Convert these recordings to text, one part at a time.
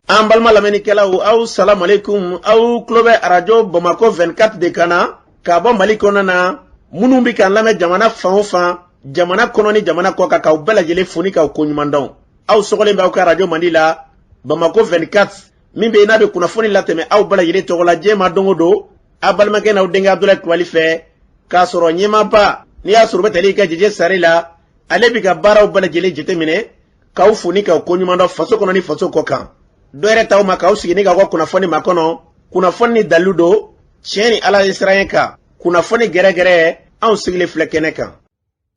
an balima lamɛnnikɛlaw aw salamu aleykum aw tulo bɛ arajo bamakɔ 24 de kan na ka bɔ mali kɔnɔna na minnu bɛ k'an lamɛn jamana fan o fan jamana kɔnɔ ni jamana kɔ kan k'aw bɛɛ lajɛlen fo ni k'aw koɲuman dɔn aw sɔgɔlen bɛ aw ka arajo mandi la bamakɔ 24 min bɛ yen n'a bɛ kunnafoni latɛmɛ aw bɛɛ lajɛlen tɔgɔ la diɲɛ ma don o don aw balimakɛ n'aw denkɛ abudulayi kulubali fɛ k'a sɔrɔ ɲɛmaaba n'i y'a sɔrɔ o bɛ tali kɛ jeje sari la ale bɛ ka baaraw bɛɛ lajɛlen jateminɛ k'aw fo ni k'aw koɲuman dɔn faso kɔnɔ ni faso kɔ kan dɔ wɛrɛ t'aw ma k'aw sigi ni k'aw ka kunnafoni makɔnɔ kunnafoni ni dalilu don tiɲɛ ni ala ɲɛsiranɲɛ kan kunnafoni gɛrɛgɛrɛ anw sigilen filɛ kɛnɛ kan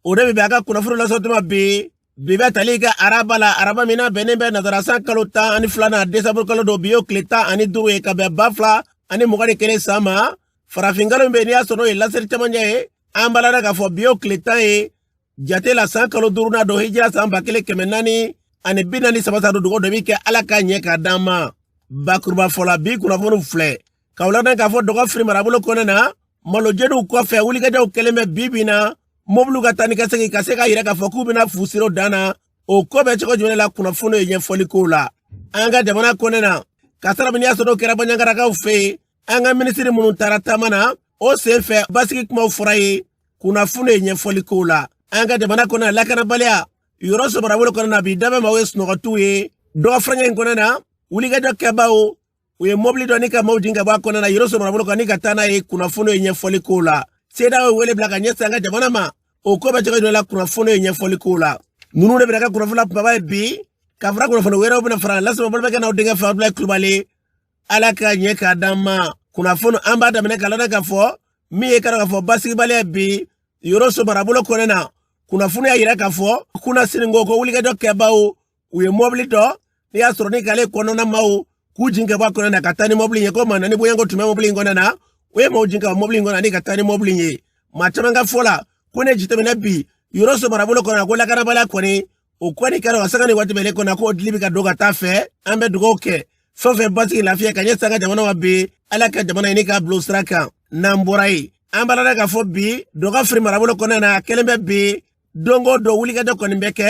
o de bɛ bɛn a ka kunnafoni lasɔrɔ tuma bi bi bɛ tali kɛ araba la araba min na bɛnnen bɛ nasara san kalo tan ani filanan desanburu kalo don bi y'o tile tan ani duuru ye ka bɛn ba fila ani mugan ni kelen san ma farafinkalo min bɛ n'i y'a sɔrɔ o ye lasiri cɛmancɛ ye an b'a lada k'a fɔ bi y'o tile tan ye jate la san kalo duruna don hijira san ba kelen kɛmɛ naani ani bi naani saba san don dugawu dɔ bɛ kɛ ala k'a ɲɛ k'a d'an ma bakuruba fɔla bi kunnafoniw filɛ k'a lada k'a fɔ dɔgɔfiri marabolo kɔnɛ na malojɛniw kɔfɛ wulikajɔw kɛlen bɛ bi bi na mobiliw ka taa ni ka segin ka se k'a yira k'a fɔ k'u bɛna fu siri o dan na o ko bɛ cogo jumɛn la kunnafoniw ye ɲɛfɔli kow la an ka jamana kɔnɛ na kasaara min n'i y'a sɔrɔ kɛra baɲagarakaw fɛ yen an ka minisiri minnu taara taama na o sen fɛ basigi kumaw fɔra ye kunnafoni ye ɲɛfɔli kow la an ka jamana kɔnɔ lakanabaliya yɔrɔso marabolo kɔnɔ na bi dabɛn maaw ye sunɔgɔtiw ye dɔgɔ furancɛ in kɔnɔ na wulikajɔ kɛbaaw u ye mɔbili dɔ ni ka maaw jigin ka bɔ a kɔnɔ na yɔrɔso marabolo kan ni ka taa n'a ye kunnafoni ye ɲɛfɔli kow la sedeyawo ye wele bila ka ɲɛsin an ka jamana ma o ko bɛ cogo jumɛn la kunnafoni ye ɲɛfɔli kow la ninnu de bɛna kɛ kunnafoni la kumaba ye bi ka fara kunnafoni wɛrɛw bɛna fara lasɔrɔ balimakɛ n'aw denkɛ fɛ abudulayi kulubali ala ka ɲɛ k'a d'an ma kunnafoni an b'a daminɛ k'a lada k'a fɔ min ye kana k'a fɔ basigibaliya bi yɔrɔso marabolo kɔnɛ na kunnafoni y'a yira k'a fɔ kunasinikɔ ko wulikajɔ kɛbaaw u ye mɔbili dɔ n'i y'a sɔrɔ ni k'ale kɔnɔna maaw k'u jin ka bɔ a kɔnɔ na ka taa ni mɔbili ye ko maa naani bonya ko tun bɛ mɔbili in kɔnɔ na u ye maaw jin ka bɔ mɔbili in kɔnɔ ani ka taa ni mɔbili ye maa caman ka fɔ la ko n'i y'a jateminɛ bi yɔrɔso marabolo kɔnɔ ko lakanabaliya kɔni o kɔni kɛra wa sanga ni waati bɛɛ kɔnɔ k'o dili bɛ ka don ka t'a fɛ an bɛ dugawu kɛ fɛn fɛn basigi lafiya ka ɲɛsin an ka jamana ma bi ala ka jamana in ni k'a bila o sira kan n'an bɔra yen an b'a lada k'a fɔ bi dɔgɔfiri marabolo kɔnɔna na a kɛlen bɛ bi don o don wulikajɔ kɔni bɛ kɛ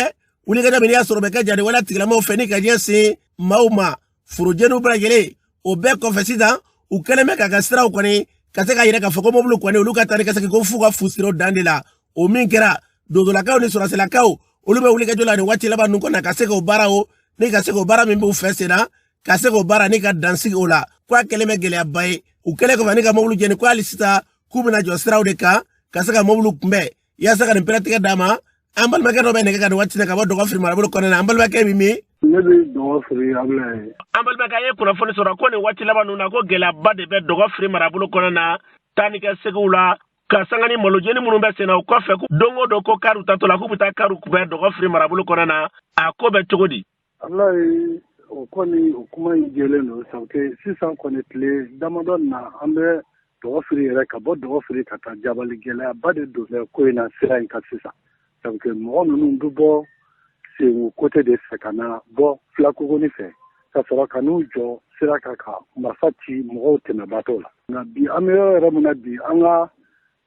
wulikajɔ min n'i y'a sɔrɔ bɛ kɛ jadi wale tigilamɔgɔw fɛ ni ka ɲɛsin maaw ma forojɛniw bɛɛ lajɛlen o bɛɛ kɔfɛ sisan u kɛlen bɛ k'a ka siraw kɔni ka se k'a yira k'a fɔ ko mɔbiliw kɔni olu ka taa ni ka segin ko f'u ka fu siri o dan de la o min kɛra donsolakaw ni sɔrɔsilakaw olu bɛ wulikajɔ la nin waati laban ninnu kɔnɔ ka se k'o baara o ni ka se k'o baara min b'u fɛ sen na ka se k'o baara ni ka dan sigi o la ko a kɛlen bɛ gɛlɛyaba ye u kɛlen kɔfɛ ni ka mɔbiliw jɛni ko hali sisan k'u bɛna jɔ siraw de kan ka se ka mɔbiliw kunbɛn yaasa ka nin pɛrɛtigɛ d'a ma an balimakɛ dɔ bɛ nɛgɛ kan nin waati in na ka bɔ dɔgɔfiri marabolo kɔnɔna na an balimakɛ bɛ min ne bɛ dɔgɔfiri abulayi an balimakɛ an ye kunnafoni sɔrɔ ko nin waati laban ninnu na ko gɛlɛyaba de bɛ dɔgɔfiri marabolo kɔnɔna na taa ni ka segiw la ka sanga ni malojeni minnu bɛ senna o kɔfɛ don o don ko kariw taatɔ la k'u bɛ taa kariw kunbɛn dɔgɔfiri marabolo kɔnɔna na a ko bɛ cogo di abulayi o kɔni o kuma in jɛlen don sabu sisan kɔni tile damadɔ na an bɛ dɔgɔfiri yɛrɛ ka bɔ dɔgɔfiri ka taa jabali gɛlɛyaba de donnen bɛ ko in na sira in kan sisan sabu mɔgɔ ninnu bɛ bɔ sengu kote de fɛ ka na bɔ filakogoni fɛ ka sɔrɔ ka n'u jɔ sira kan ka marifa ci mɔgɔw tɛmɛbaatɔw la nka bi an bɛ yɔrɔ yɛrɛ min na bi an ka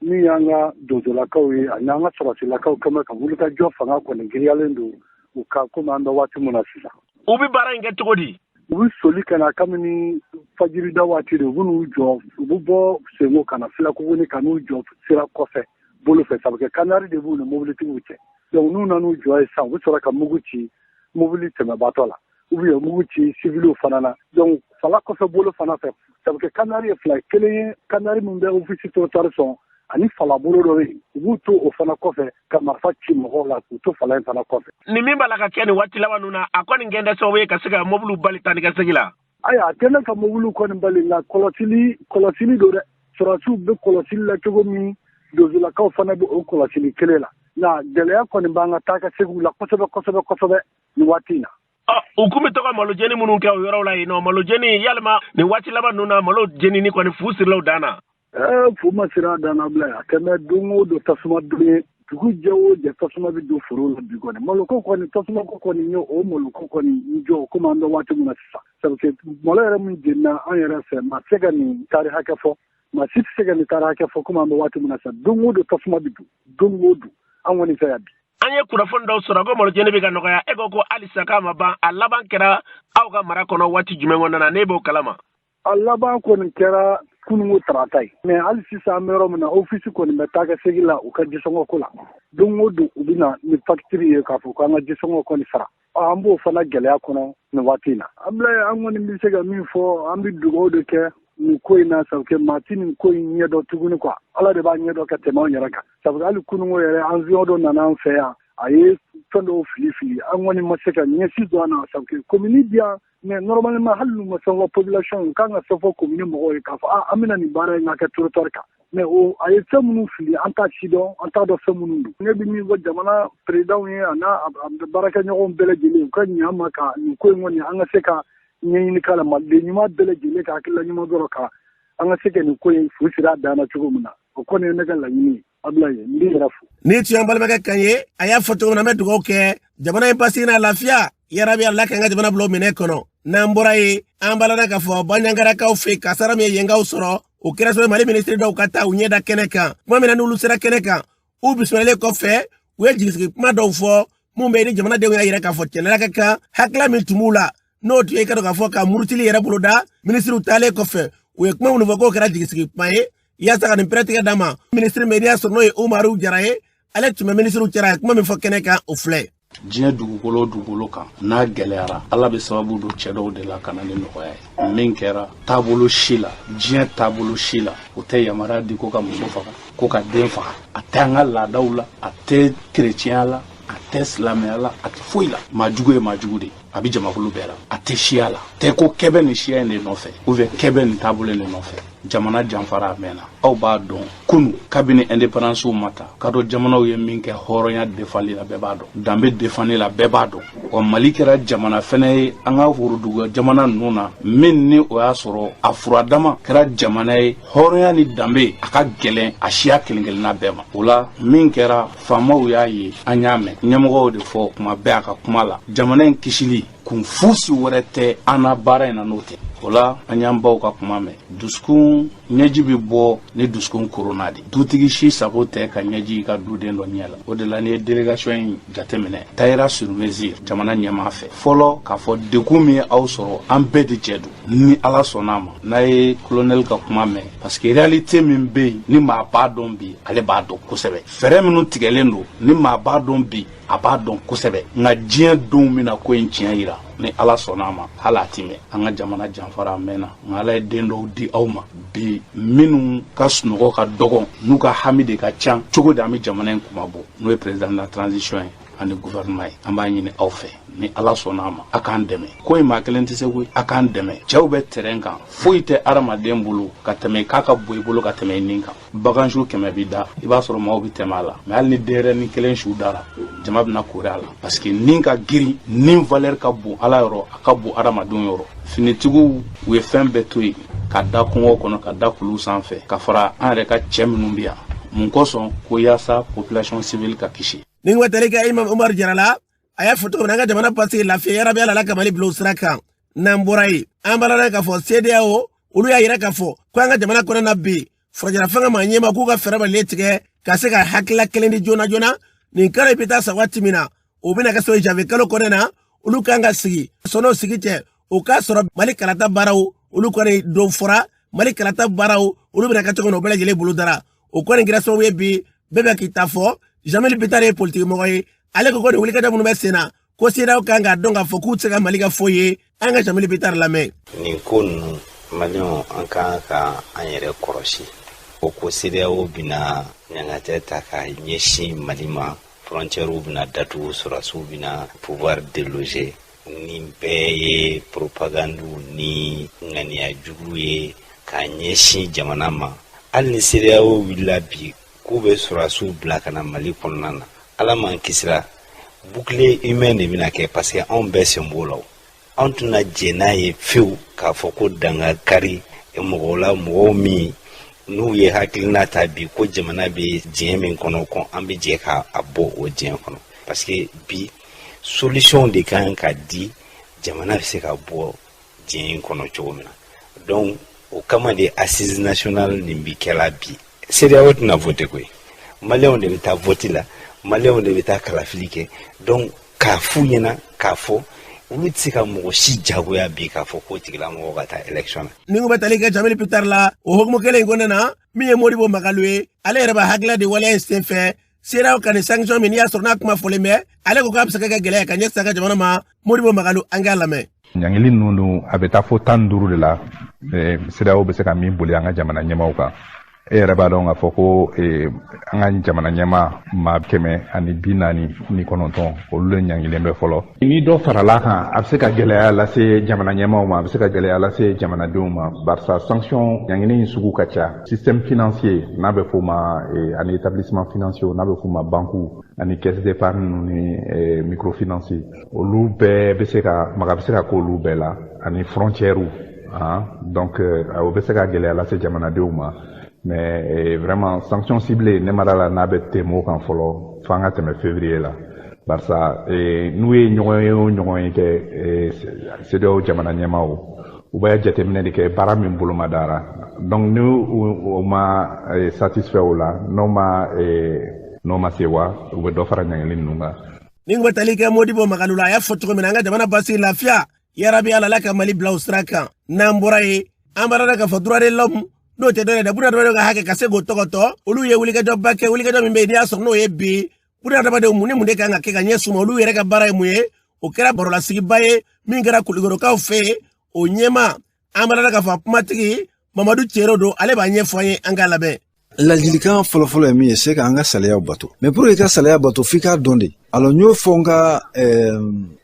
min y'an ka donsolakaw ye ani an ka sɔrɔsilakaw quand même ka wulikajɔ fanga kɔni giriyalen don u ka komi an bɛ waati min na sisan u bɛ baara in kɛ cogo di u bɛ soli ka na kabini fajirida waati de u bɛ n'u jɔ u bɛ bɔ senko ka na filakogoni ka n'u jɔ sira kɔfɛ bolo fɛ sabu kɛ kanari de b'u ni mobilitigiw cɛ donc n'u nan'u jɔ yen sisan u bɛ sɔrɔ ka mugu ci mobili tɛmɛbaatɔ la u bɛ mugu ci sibiliw fana na dɔnku fala kɔfɛ bolo fana fɛ sabu kanari ye fila ye kelen ye kanari min bɛ ofisi territoire sɔn ani falabolo dɔ bɛ yen u b'u to o fana kɔfɛ ka marifa ci mɔgɔw la k'u to fala in fana kɔfɛ nin min b'a la ka kɛ nin waati laban ninnu na a kɔni kɛlen tɛ sababu ye ka se ka mɔbiliw bali taa ni ka segi la ayiwa a tɛ ne ka mɔbiliw kɔni bali nka kɔlɔsili kɔlɔsili don dɛ sɔrɔsiw bɛ kɔlɔsili la cogo min donsolakaw fana bɛ o kɔlɔsili kelen la nka gɛlɛya kɔni b'an ka taa ka segiw la kosɛbɛ kosɛbɛ kosɛbɛ nin waati na ah, u tun bɛ to ka malo jeni minnu kɛ o yɔrɔw la yen nɔ malo jeni yalima nin waati laban ninnu na malo jenini kɔni fu sirila a dan na eh, fu ma siri a dan na abulayi quand même don o don tasuma don ye dugu jɛ o jɛ tasuma bɛ don foro la bi kɔni maloko kɔni tasuma ko kɔni ye o maloko kɔni n jɔ komi an bɛ waati min na sisan sabu malo yɛrɛ min jenina an yɛrɛ fɛ maa tɛ se ka nin taari hakɛ fɔ maa si tɛ se ka nin taari hakɛ fɔ komi an bɛ waati min na sa don o don tasuma bɛ don don o don an kɔni fɛ yan bi an ye kunnafoni dɔw sɔrɔ ko malo jeni bɛ ka nɔgɔya e ko ko halisa k'a ma ban a laban kɛra aw ka mara kɔnɔ waati jumɛn kɔnɔna na ne b'o kalama a laban kɔni kɛra kununko tarata ye mɛ hali sisan an bɛ yɔrɔ min na ofisi kɔni bɛ taa ka segi la u ka jisɔngɔko la don o don u bɛ na ni fakitiri ye k'a fɔ ko an ka jisɔngɔ kɔni sara an b'o fana gɛlɛya kɔnɔ nin waati in na abulayi an kɔni bɛ se ka min fɔ an bɛ dugaw de kɛ nin ko in na sabu kɛ maa ti nin ko in ɲɛdɔn tuguni kuwa ala de b'a ɲɛdɔn ka tɛmɛ an yɛrɛ kan sabu hali kununko yɛrɛ awiyɔn dɔ nana an fɛ yan a ye fɛn dɔw fili fili an kɔni ma se ka ɲɛ si dɔn a na sabu kɛ komini bi yan mɛ normalement hali n'u ma fɛn fɔ population ye u ka kan ka fɛn fɔ komini mɔgɔw ye k'a fɔ an bɛna nin baara in kɛ aw ka territoire kan mɛ o a ye fɛn minnu fili an t'a si dɔn an t'a dɔn fɛn minnu don ne bɛ min fɔ jamana perezidan ye a n'a baarakɛɲɔgɔnw bɛɛ lajɛlen u ka ɲɛ an ma ka nin ko in kɔni an ka se ka ɲɛɲini k'a la maliden ɲuman bɛɛ lajɛlen ka hakilila ɲuman dɔrɔn ka an ka se ka nin ko in fu siri a dan na cogo min na o kɔni ye ne ka laɲini ye nin tun ye an balimakɛ kan ye a y'a fɔ cogo min na an bɛ dugawu kɛ jamana ye basigi n'a lafiya yarabi ala k'an ka jamana bila o minɛn kɔnɔ n'an bɔra yen an balana k'a fɔ banjagarakaw fɛ kasara min ye yenkaw sɔrɔ o kɛra sabu mali minisiri dɔw ka taa u ɲɛda kɛnɛ kan kuma min na n'olu sera kɛnɛ kan u bisimilalen kɔfɛ u ye jigisigi kuma dɔw fɔ minnu bɛ ni jamanadenw y'a yira k'a fɔ tiɲɛ la ka kan hakilila min tun b'u la n'o tun ye ka dɔn k'a fɔ ka murutili yɛrɛ boloda minisiriw taalen kɔfɛ u ye kuma minnu fɔ k'o kɛra jigisigi kuma ye yaasa ka nin pɛrɛtigɛ d'a ma minisiri min n'i y'a sɔrɔ n'o ye umaru jara ye ale tun bɛ minisiriw cɛra a ye kuma min fɔ kɛnɛ kan o filɛ diɲɛ dugukolo dugukolo kan n'a gɛlɛyara ala bɛ sababu don cɛ dɔw de la ka na ni nɔgɔya ye min kɛra taabolo si la diɲɛ taabolo si la o tɛ yamaruya di ko ka muso faga ko ka den faga a tɛ an ka laadaw la a tɛ kerecɛnya la a tɛ silamɛya la a tɛ foyi la maajugu ye maajugu de ye a bɛ jamakulu bɛɛ la a tɛ siya la tɛ ko kɛ bɛ nin siya in de nɔfɛ ou bien kɛ bɛ nin taabolo de nɔfɛ jamana janfara a mɛnna aw b'a dɔn kunu kabini indepandansiw ma ta ka dɔn jamanaw ye min kɛ hɔrɔnya defali la bɛɛ b'a dɔn danbe defani la bɛɛ b'a dɔn wa mali kɛra jamana fɛnɛ ye an ka woroduguya jamana ninnu na min ni o y'a sɔrɔ a furadama kɛra jamana ye hɔrɔnya ni danbe a ka gɛlɛn a siya kelen kelenna bɛɛ ma o la min kɛra faamaw y'a ye an y'a mɛn ɲɛmɔgɔw de fɔ kuma bɛɛ a ka kuma la jamana in kisili kun fosi wɛrɛ tɛ an na baara in na n'o tɛ o la an y'an baw ka kuma mɛn dusukun ɲɛji bɛ bɔ ni dusukun korona de dutigi si sago tɛ ka ɲɛji y'i ka duden dɔ ɲɛ la o de la n'i ye délégation in jateminɛ tayira sur mesure jamana ɲɛmaa fɛ fɔlɔ k'a fɔ degun min ye aw sɔrɔ an bɛɛ de jɛ don ni ala sɔnna a ma n'a ye kolonɛli ka kuma mɛn parce que réalité min bɛ yen ni maa b'a dɔn bi ale b'a dɔn kosɛbɛ fɛɛrɛ minnu tigɛlen don ni maa b'a dɔn bi a b'a dɔn kosɛbɛ nka diɲɛ donw bɛna ko in tiɲɛ yira ni ala sɔnna a ma hali a ti mɛn an ka jamana janfara a mɛnna nka ala ye den dɔw di aw ma bi minnu ka sunɔgɔ ka dɔgɔn n'u ka hami de ka can cogo di an bɛ jamana in kunmabɔ n'o ye président de la transition ye ani gouvernement ye an b'a ɲini aw fɛ ni ala sɔnna a ma a k'an dɛmɛ ko in maa kelen tɛ se koyi a k'an dɛmɛ cɛw bɛ terrain kan foyi tɛ adamaden bolo ka tɛmɛ k'a ka bon i bolo ka tɛmɛ i nin kan bagan su kɛmɛ bi da i b'a sɔrɔ maaw bɛ tɛmɛ a la mais hali ni denyɛrɛnin kelen su dara jama bɛna koori a la parce que nin ka girin nin valeur ka bon ala yɔrɔ a ka bon adamadenw yɔrɔ finitigiw u ye fɛn bɛɛ to yen ka da kungo kɔnɔ ka da kulu sanfɛ ka fara an yɛrɛ ka cɛ minnu bɛ yan mun kosɔn ko yaasa population civile ka kisi ni n bɛ tali kɛ imam umar jara la a y'a fɔ cogo min na an ka jamana basigi lafiya yarabi ala ka mali bila o sira kan n'an bɔra yen an balala k'a fɔ sedeyawo olu y'a yira k'a fɔ ko an ka jamana kɔnɔ na bi furancɛla fanga maa ɲɛmaa k'u ka fɛɛrɛ bɛɛ lajɛlen tigɛ ka se ka hakilila kelen di joona joona nin kalo in bɛ taa sa waati min na o bɛna kɛ sabu janvier kalo kɔnɔ na olu kan ka sigi sɔn'o sigi cɛ o k'a sɔrɔ mali kalata baaraw olu kɔni don fɔra mali kalata baaraw olu bɛna kɛ cogo min na o bɛɛ lajɛlen bolodara o kɔni kɛra sababu ye bi bɛɛ bɛ k'i ta fɔ jamil bitare ye politikimɔgɔ ye ale ko ko nin wulikajɔ minnu bɛ sen na ko CEDEAO kan k'a dɔn k'a fɔ k'u tɛ se ka mali kɛ foyi ye an ka jamil bitare lamɛn nin ko ninnu maliyɛnw an kan ka an yɛrɛ kɔrɔsi u ko CEDEAO bɛna ɲangatɛ ta ka ɲɛsin mali ma frontiɛriw bɛna datugu sɔrɔdasiw bɛna pouvoir déloger nin bɛɛ ye poropagandiw ni ŋaniya jugu ye ka ɲɛsin jamana ma hali ni CEDEAO wulila bi k'u bɛ sɔrɔdasiw bila ka na mali kɔnɔna na ala m'an kisira bouclier humain de bɛna kɛ parce que anw bɛɛ sen b'o la anw tɛna jɛn n'a ye fewu k'a fɔ ko dan ka kari mɔgɔw la mɔgɔw minnu ye hakilina ta bi ko jamana bɛ dingɛ min kɔnɔ ko an bɛ jɛ ka a bɔ o dingɛ kɔnɔ parce que bi solution de kan ka di jamana bɛ se ka bɔ dingɛ in kɔnɔ cogo min na donc o kama de assise nationale nin bɛ kɛla bi CEDEAO tɛna voter koyi maliyɛnw de bɛ taa voti la maliyɛnw de bɛ taa kalafili kɛ donc a f'u ɲɛna k'a fɔ olu tɛ se ka mɔgɔ si jagoya bi k'a fɔ k'o tigilamɔgɔ ka taa élection na. ni ko bɛ tali kɛ jamil bitare la o hukumu kelen in kɔnɔna na min ye modibo magalu ye ale yɛrɛ b'a hakilila di waleya in senfɛ CEDEAO ka nin sanction min n'i y'a sɔrɔ n'a kuma fɔlen bɛ ale ko k'a bɛ se ka kɛ gɛlɛya ka ɲɛsin an ka jamana ma modibo magalu an k'a lamɛn ɲangili ninnu dun a bɛ taa fo tan ni duuru de la CEDEAO bɛ se ka min boli an ka jamana ɲɛmaaw kan e yɛrɛ b'a dɔn k'a fɔ ko an ka jamana ɲɛmaa maa kɛmɛ ani bi naani ni kɔnɔntɔn olu de ɲangilen bɛ fɔlɔ Ni dɔ farala kan a bɛ se ka gɛlɛya lase jamana ɲɛmaaw ma a bɛ se ka gɛlɛya lase jamanadenw ma barisa sanction ɲangili in sugu ka ca système financier n'a bɛ f'o ma eh, ani établissement financier n'a bɛ f'o ma banque ani caisse d'épargne ninnu ni eh, microfinance olu bɛɛ bɛ se ka maga bɛ se ka k'olu bɛɛ la ani frontières ah, donc eh, o bɛ se ka gɛlɛya lase jamanadenw ma mais eh, vraiment sanction ciblée ne ma da a la n'a bɛ tɛmɛ o kan fɔlɔ f'an ka tɛmɛ février la barisa eh, n'u ye ɲɔgɔnye o ɲɔgɔnye kɛ eh, CEDEAO jamana ɲɛmaaw u bɛ jateminɛ de kɛ baara min boloma dara donc ni u ma eh, satisfait o la n'u ma eh, n'u ma sɛwa u bɛ dɔ fara ɲangili ninnu kan ni ko bɛ tali kɛ modibo magalu la a y'a fɔ cogo min na an ka jamana basigi lafiya yarabi ala la ka mali bila o sira kan n'an bɔra yen an b'a dɔn k'a fɔ droit de l'homme n'o tɛ dɔwɛrɛ dɛ bunadamadenw ka hakɛ ka se k'o tɔgɔtɔ olu ye wulikajɔba kɛ wulikajɔ min bɛ yen n'i y'a sɔrɔ n'o ye bi bunadamadenw mun ni mun de kan ka kɛ ka ɲɛ suma olu yɛrɛ ka baara ye mun ye o kɛra barolasigiba ye min kɛra kulikorokaw fɛ yen o ɲɛma an b'a dɔn k'a fɔ a kumatigi mamadu cero don ale b'a ɲɛfɔ an ye an k'a lamɛn ladilikan fɔlɔfɔlɔ ye min ye c'est ka an ka sariyaw bato mais pour que ka sariya bato f'i k'a dɔn de alors n y'o fɔ n ka eh,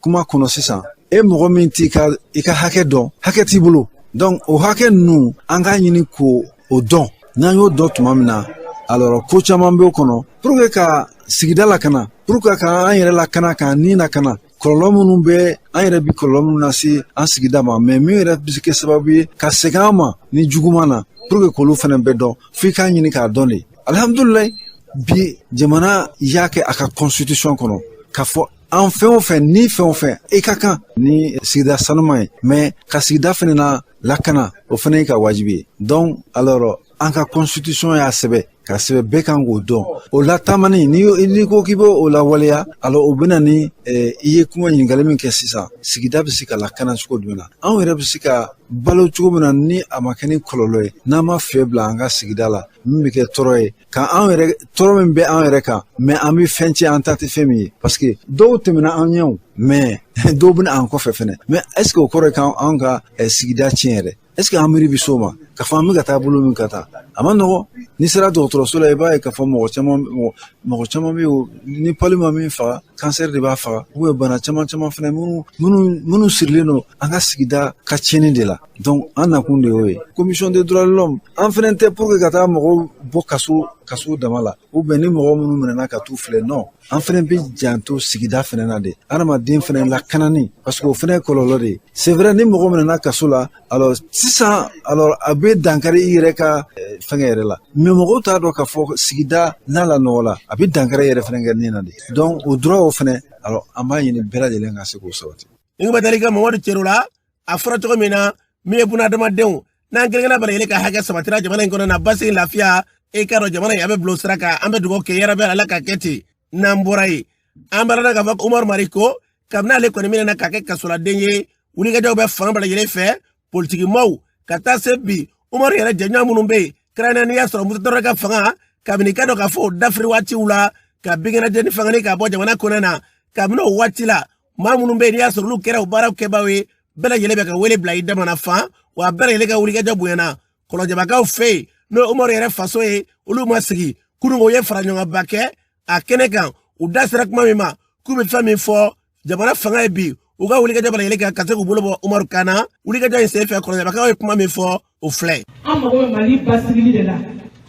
kuma kɔnɔ sisan e mɔgɔ min t'i ka i ka hakɛ dɔn hakɛ t'i bolo donc o hakɛ ninnu an k'a ɲini ko o dɔn n'an y'o dɔn tuma min na alors ko caman b'o kɔnɔ pour que ka sigida lakana pour que ka an yɛrɛ lakana k'an ni lakana kɔlɔlɔ minnu bɛ an yɛrɛ bi kɔlɔlɔ minnu lase an sigida ma mais min yɛrɛ bɛ se kɛ sababu ye ka segin an ma ni juguman na pour que k'olu fana bɛɛ dɔn f'i k'a ɲini k'a dɔn de alihamudulilayi bi jamana y'a kɛ a ka constitution kɔnɔ k'a fɔ an fɛn o fɛn ni fɛn o fɛn i ka kan ni sigida sanuman ye mais ka sigida fana na lakana o fana y'i ka wajibi ye donc alors an ka constitution y'a sɛbɛn k'a sɛbɛn bɛɛ kan k'o dɔn o latamani n'i ko k'i bɛ o lawaleya alors o bɛna ni eh, i ye kuma ɲininkali min kɛ sisan sigida bɛ se ka lakana cogo jumɛn na anw yɛrɛ bɛ se ka balo cogo min na ni a ma kɛ ni kɔlɔlɔ ye n'an ma fiɲɛ bila an ka sigida la min bɛ kɛ tɔɔrɔ ye ka anw yɛrɛ tɔɔrɔ min bɛ an yɛrɛ kan mais an bɛ fɛn tiɲɛ an ta tɛ fɛn min ye parce que dɔw tɛmɛna an ɲɛ o mais dɔw bɛ na an kɔfɛ fɛnɛ mais est-ce que o kɔrɔ ye k'an ka eh, sigida tiɲɛ yɛrɛ est-ce que an miiri bi s'o ma k'a fɔ an bɛ ka taa bolo min ka taa a man nɔgɔn n'i sera dɔgɔtɔrɔso la i b'a ye k'a fɔ mɔgɔ caman mɔgɔ caman bɛ yen ni palu ma min faga cancer de b'a faga ou bien bana caman caman fana minnu minnu minnu sirilen don an ka sigida ka tiɲɛni de la donc an nakun de y'o ye commission de droit de l'homme an fana tɛ pour que ka taa mɔgɔw bɔ kaso kaso dama la ou bien ni mɔgɔ minnu minɛna ka t'u filɛ non an fana bɛ janto sigida fana na de adamaden fana lakanani parce que o fana kɔlɔlɔ de ye c'est vrai ni mɔgɔ minɛna kaso la alors sisan alors a bɛ dankari i yɛrɛ ka eh, fɛngɛ yɛrɛ la mais mɔgɔw t'a dɔn k'a fɔ sigida n'a lanɔgɔla a bɛ dankari yɛrɛ fana kɛ nin na de donc o droit o fana alors an b'a ɲini bɛɛ lajɛlen ka se k'o sabati. Nin ko bɛ tali kɛ Mamadu Cero la a fɔra cogo min na min ye bunahadamadenw n'an kelenkelenna bɛɛ lajɛlen ka hakɛ sabatira jamana in kɔnɔ na basigi lafiya e k'a dɔn jamana in a bɛ bila o sira kan an bɛ dugawu kɛ yarabi ala k'a kɛ ten n'an bɔra yen an b'a dɔn k'a fɔ ko umaru mariko kabini ale kɔni minɛna ka kɛ kasoladen ye wulikajɔw bɛ fan bɛɛ lajɛlen fɛ politikimaaw ka taa se bi umaru yɛrɛ jɛɲɔgɔn minnu bɛ yen kɛrɛnkɛrɛnnenya n'i y'a sɔrɔ musa tarawele ka fanga kabini ka dɔn k'a fɔ o dafiri waatiw la ka binkɛnɛjɛ ni fanga nin ka bɔ jamana kɔnɔ na kabini o waati la maa minnu bɛ yen n'i y'a sɔrɔ olu kɛra o baaraw kɛbaaw ye bɛɛ lajɛlen bɛ ka wele bila jamana fan wa bɛɛ lajɛlen ka wulikajɔ bonyana kɔlɔnjɛbakaw fɛ yen n'o ye umaru yɛrɛ faso ye olu ma sigi kunun u ye fara ɲɔgɔnba kɛ a kɛnɛ kan u da sera kuma min ma k'u bɛ fɛn min fɔ jamana fanga ye bi u ka wulikajɔ bɛɛ lajɛlen kan ka se k'u bolo bɔ umaru kan na wulikajɔ in senfɛ kɔlɔnjɛbakaw ye kuma min fɔ o filɛ ye. an mago bɛ mali basigili de la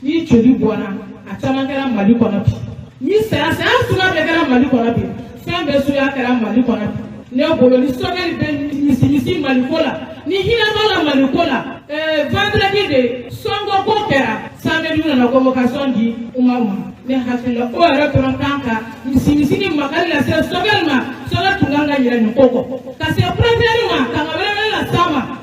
ni joli bɔnna a caman kɛra mali kɔnɔ bi ni saya saya suguya bɛɛ kɛra mali kɔnɔ bi fɛn bɛɛ suguya kɛra mali kɔnɔ bi ne bolo ni sɔgɛli bɛ misimisi maliko la ni hinɛ b'a la maliko la ɛɛ vendredi de sɔngɔ ko kɛra samedi nana convocation di umaru ma ne hakili la o yɛrɛ dɔrɔn kan ka misimisi ni makari lase sɔgɛli ma sɔgɛli tun kan ka yɛlɛ nin ko kɔ ka se premier ma kanga wɛrɛ wɛrɛ las'a ma.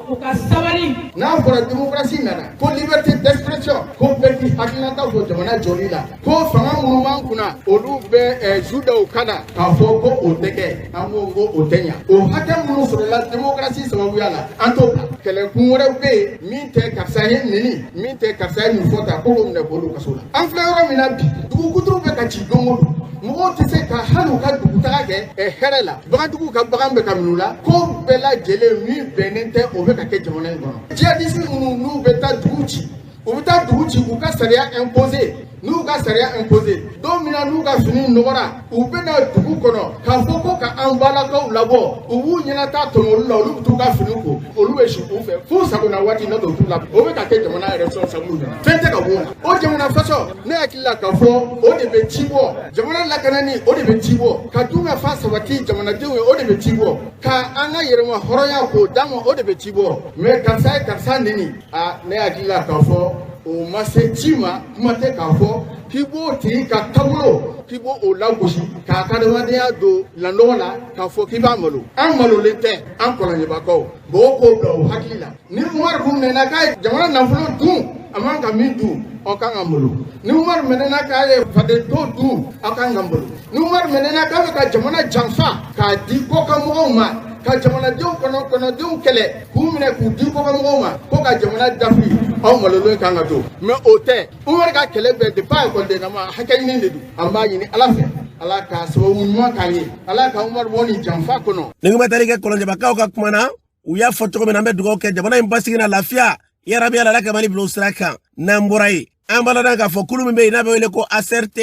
u ka sabali n'a fɔra démocratie nana ko liberté d'expression ko bɛɛ k'i hakilinataw don jamana jɔli la ko fanga minnu b'an kunna olu bɛ eh, ju da u kan na k'a fɔ ko o tɛ kɛ an ko ko o tɛ ɲa o hakɛ minnu sɔrɔla démocratie sababuya la an t'o bila kɛlɛkun wɛrɛw bɛ yen min tɛ karisa ye n neni min tɛ karisa ye nin fɔ ta ko k'o minɛ k'o don kaso la an filɛ yɔrɔ min na bi dugu kuturu bɛ ka ci don o don mɔgɔw tɛ se ka hali u ka dugutaga kɛ eh, hɛrɛ la bagantigiw ka bagan bɛ ka min'u la ko bɛɛ lajɛlen min bɛnnen tɛ o bɛ ka kɛ jamana in kɔnɔ jihadisi minnu n'u bɛ taa dugu ci u bɛ taa dugu ci u ka sariya imposer n'u ka sariya imposer don min na n'u ka fini nɔgɔra u bɛna dugu kɔnɔ k'a fɔ ko ka an balakaw labɔ u b'u ɲɛnata tɔmɔ olu la olu bɛ t'u ka fini ko olu bɛ si u fɛ f'u sagona waati n'o tɛ u t'u la o bɛ ka kɛ jamana yɛrɛ sɔrɔ sabu fɛn tɛ ka bɔ o la o jamana faso ne hakili la k'a fɔ o de bɛ ci bɔ jamana lakanani o de bɛ ci bɔ ka dunkafa sabati jamanadenw ye o de bɛ ci bɔ ka an ka yɛrɛmahɔrɔnya k'o d'an ma o de bɛ ci bɔ mɛ karisa ye karisa neni a ne hakili la k'a fɔ o ma se ci ma kuma tɛ k'a fɔ k'i b'o tigi ka taabolo k'i b'o o lagosi k'a ka adamadenya don lanɔgɔ la k'a fɔ k'i b'a malo an malolen tɛ an kɔlɔnjɛbakaw mɔgɔw k'o bila u hakili la ni umaru tun minɛna k'a ye jamana nafolo dun a man ka min dun aw kan ka malo ni umaru minɛna k'a ye faden to dun aw kan ka malo ni umaru minɛna k'a bɛ ka jamana janfa k'a di kɔkanmɔgɔw ma ka jamanadenw kɔnɔ kɔnɔdenw kɛlɛ k'u minɛ k'u di kɔkanmɔgɔw ma ko ka jamana dafi aw malolen kan ka to mɛ o tɛ umaru ka kɛlɛ bɛɛ depi a ekɔlidennama hakɛɲini de don an b'a ɲini ala fɛ ala ka sababu ɲuman k'an ye ala ka umaru bɔ nin janfa kɔnɔ. nin kun bɛ tali kɛ kɔlɔnjɛbakaw ka kuma na u y'a fɔ cogo min na an bɛ dugawu kɛ jamana in basigi n'a lafiya yarabi ala ka mali bila sira kan n'an bɔra yen an b'a ladɔn k'a fɔ kulu min bɛ yen n'a bɛ wele ko acrt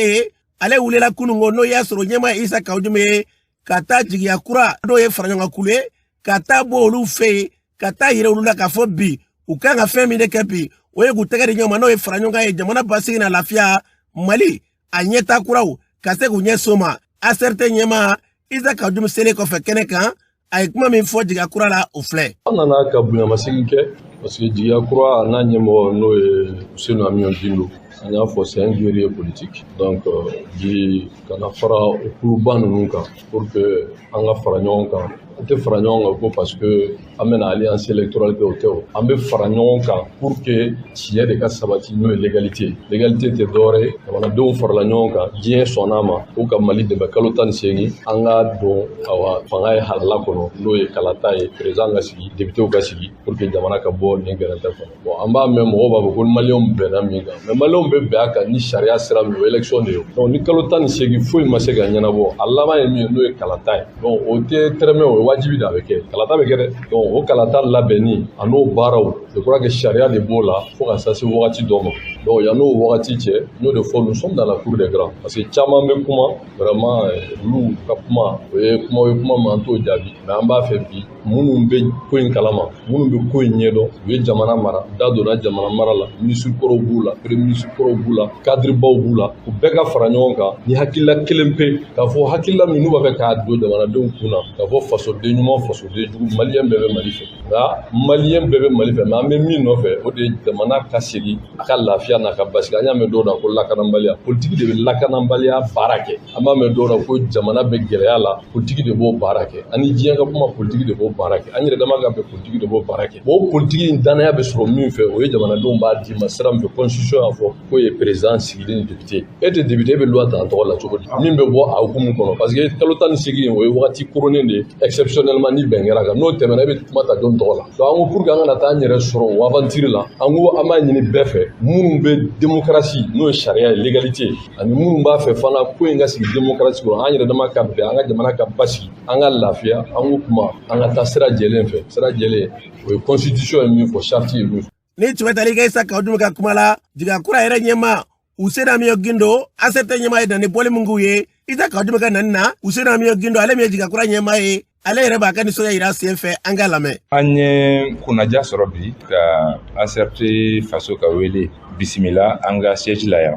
ale wulila kunun ko n'o y'a sɔrɔ ɲɛmaa ye isa kawu jim ye ka taa jigiya kura n'o ye faraɲɔgɔnkankulu ye ka taa bɔ olu fɛ yen ka t'a yira olu la k'a fɔ bi u kan ka fɛn min de kɛ bi o ye k'u tɛgɛ di ɲɔgɔn ma n'o ye faraɲɔgɔnkan ye jamana basigi n'a lafiya mali a ɲɛta kuraw ka se k'u ɲɛ so ma acrt ɲɛmaa isa kawu jim selen kɔfɛ kɛnɛ kan a ye kuma min fɔ jigiya kura la o filɛ an nana ka bonyamasegin kɛ parce que jigiya kura a n'a ɲɛmɔgɔ n'o ye usenu amiyon gindo an y'a fɔ c'est un guerrier politique donc euh, bi ka na fara o kuluba ninnu kan pour que an ka fara ɲɔgɔn kan an tɛ fara ɲɔgɔn kan ko parce que an bɛna alliance électorale kɛ o tɛ o an bɛ fara ɲɔgɔn kan pour que tiɲɛ de ka sabati n'o ye légalité légalité tɛ dɔwɛrɛ ye jamanadenw farala ɲɔgɔn kan diɲɛ sɔnna a ma ko ka mali dɛmɛ kalo tan ni seegin an ka don awa fanga ye halala kɔnɔ n'o ye kalata ye président ka sigi députéw ka sigi pour que jamana ka bɔ nin gɛrɛntɛ kɔnɔ Bon an b'a mɛn mɔgɔw b'a fɔ ko maliyɛnw bɛnna min kan mais maliyɛnw bɛ bɛn a kan ni sariya sira min o élection de ye donc ni kalo tan ni seegin foyi ma se ka ɲɛnabɔ a laban ye min ye n'o ye kalata ye donc o tɛ tɛrɛmɛ o ye wajibi de a bɛ kɛ kalata bɛ kɛ dɛ donc o kalata labɛnni a n'o baaraw je crois que sariya de b'o la fo ka taa se wagati dɔ ma donc yan n'o wagati cɛ n y'o de fɔ nous sommes dans la cour des grands parce que caman bɛ kuma vraiment olu ka kuma o ye kuma ye kuma mais an t'o jaabi mais an b'a fɛ bi minnu bɛ ko in kalama minnu bɛ ko in ɲɛdɔn u ye jamana mara da donna jamana mara la minisiri kɔrɔw b'u la premier minisiri kɔrɔw b'u la kadiribaw b'u la u bɛɛ ka fara ɲɔgɔn kan ni hakilila kelen pe k'a fɔ hakilila min n'u b'a fɛ k'a don jamanadenw kun na k'a fɔ fasoden ɲuman fasoden jugu maliyɛn bɛɛ bɛ mali fɛ nka maliyɛn bɛɛ bɛ mali fɛ mais an bɛ min nɔfɛ o de ye jamana ka segin a ka lafiya n'a ka basigi an y'a mɛn dɔw la ko lakanabaliya politiki de bɛ lakanabaliya baara kɛ an b'a mɛn dɔw la ko jamana bɛ gɛlɛya la politigi de b'o baara kɛ ani diɲɛ ka kuma politigi de b'o baara kɛ an yɛrɛ dama ka bɛn politigi de b'o baara kɛ o politigi in danaya bɛ sɔrɔ min fɛ o ye jamanadenw b'a d'i ma sira min fɛ constitution y'a fɔ k'o ye président sigili ni député e tɛ député e bɛ loi ta an tɔgɔ la cogo di min bɛ bɔ a hukumu kɔnɔ parce que kalo tan ni seegin o ye wagati koronnen de ye exceptionnellement ni bɛn kɛra a kan n'o tɛmɛna e bɛ kuma ta jɔn tɔgɔ la donc an ko pour que an kana taa an yɛrɛ sɔrɔ o aventure la an ko an b'a ɲini bɛɛ fɛ minnu bɛ démocratie n'o ye sariya ye légalité ani minnu b'a fɛ fana ko in ka sigi demokarasi kɔnɔ an yɛrɛ dama ka bɛn an ka jamana ka basigi an ka lafiya an k'o kuma an ka taa sira jɛlen fɛ sira jɛlen o ye constitution ye min fɔ charte ye min fɔ nin tun bɛ tali kɛ isa kaw jimu ka kuma la jigiya kura yɛrɛ ɲɛmaa useni amiyɔn gindo ACRT ɲɛmaa ye dani bɔli min k'u ye isa kaw jimu ka nani na useni amiyɔn gindo ale min ye jigiya kura ɲɛmaa ye ale yɛrɛ b'a ka nisɔndiya yira sen fɛ an k'a lamɛn an ye kunnaja sɔrɔ bi ka ACRT faso ka wele bisimila an ka siège la yan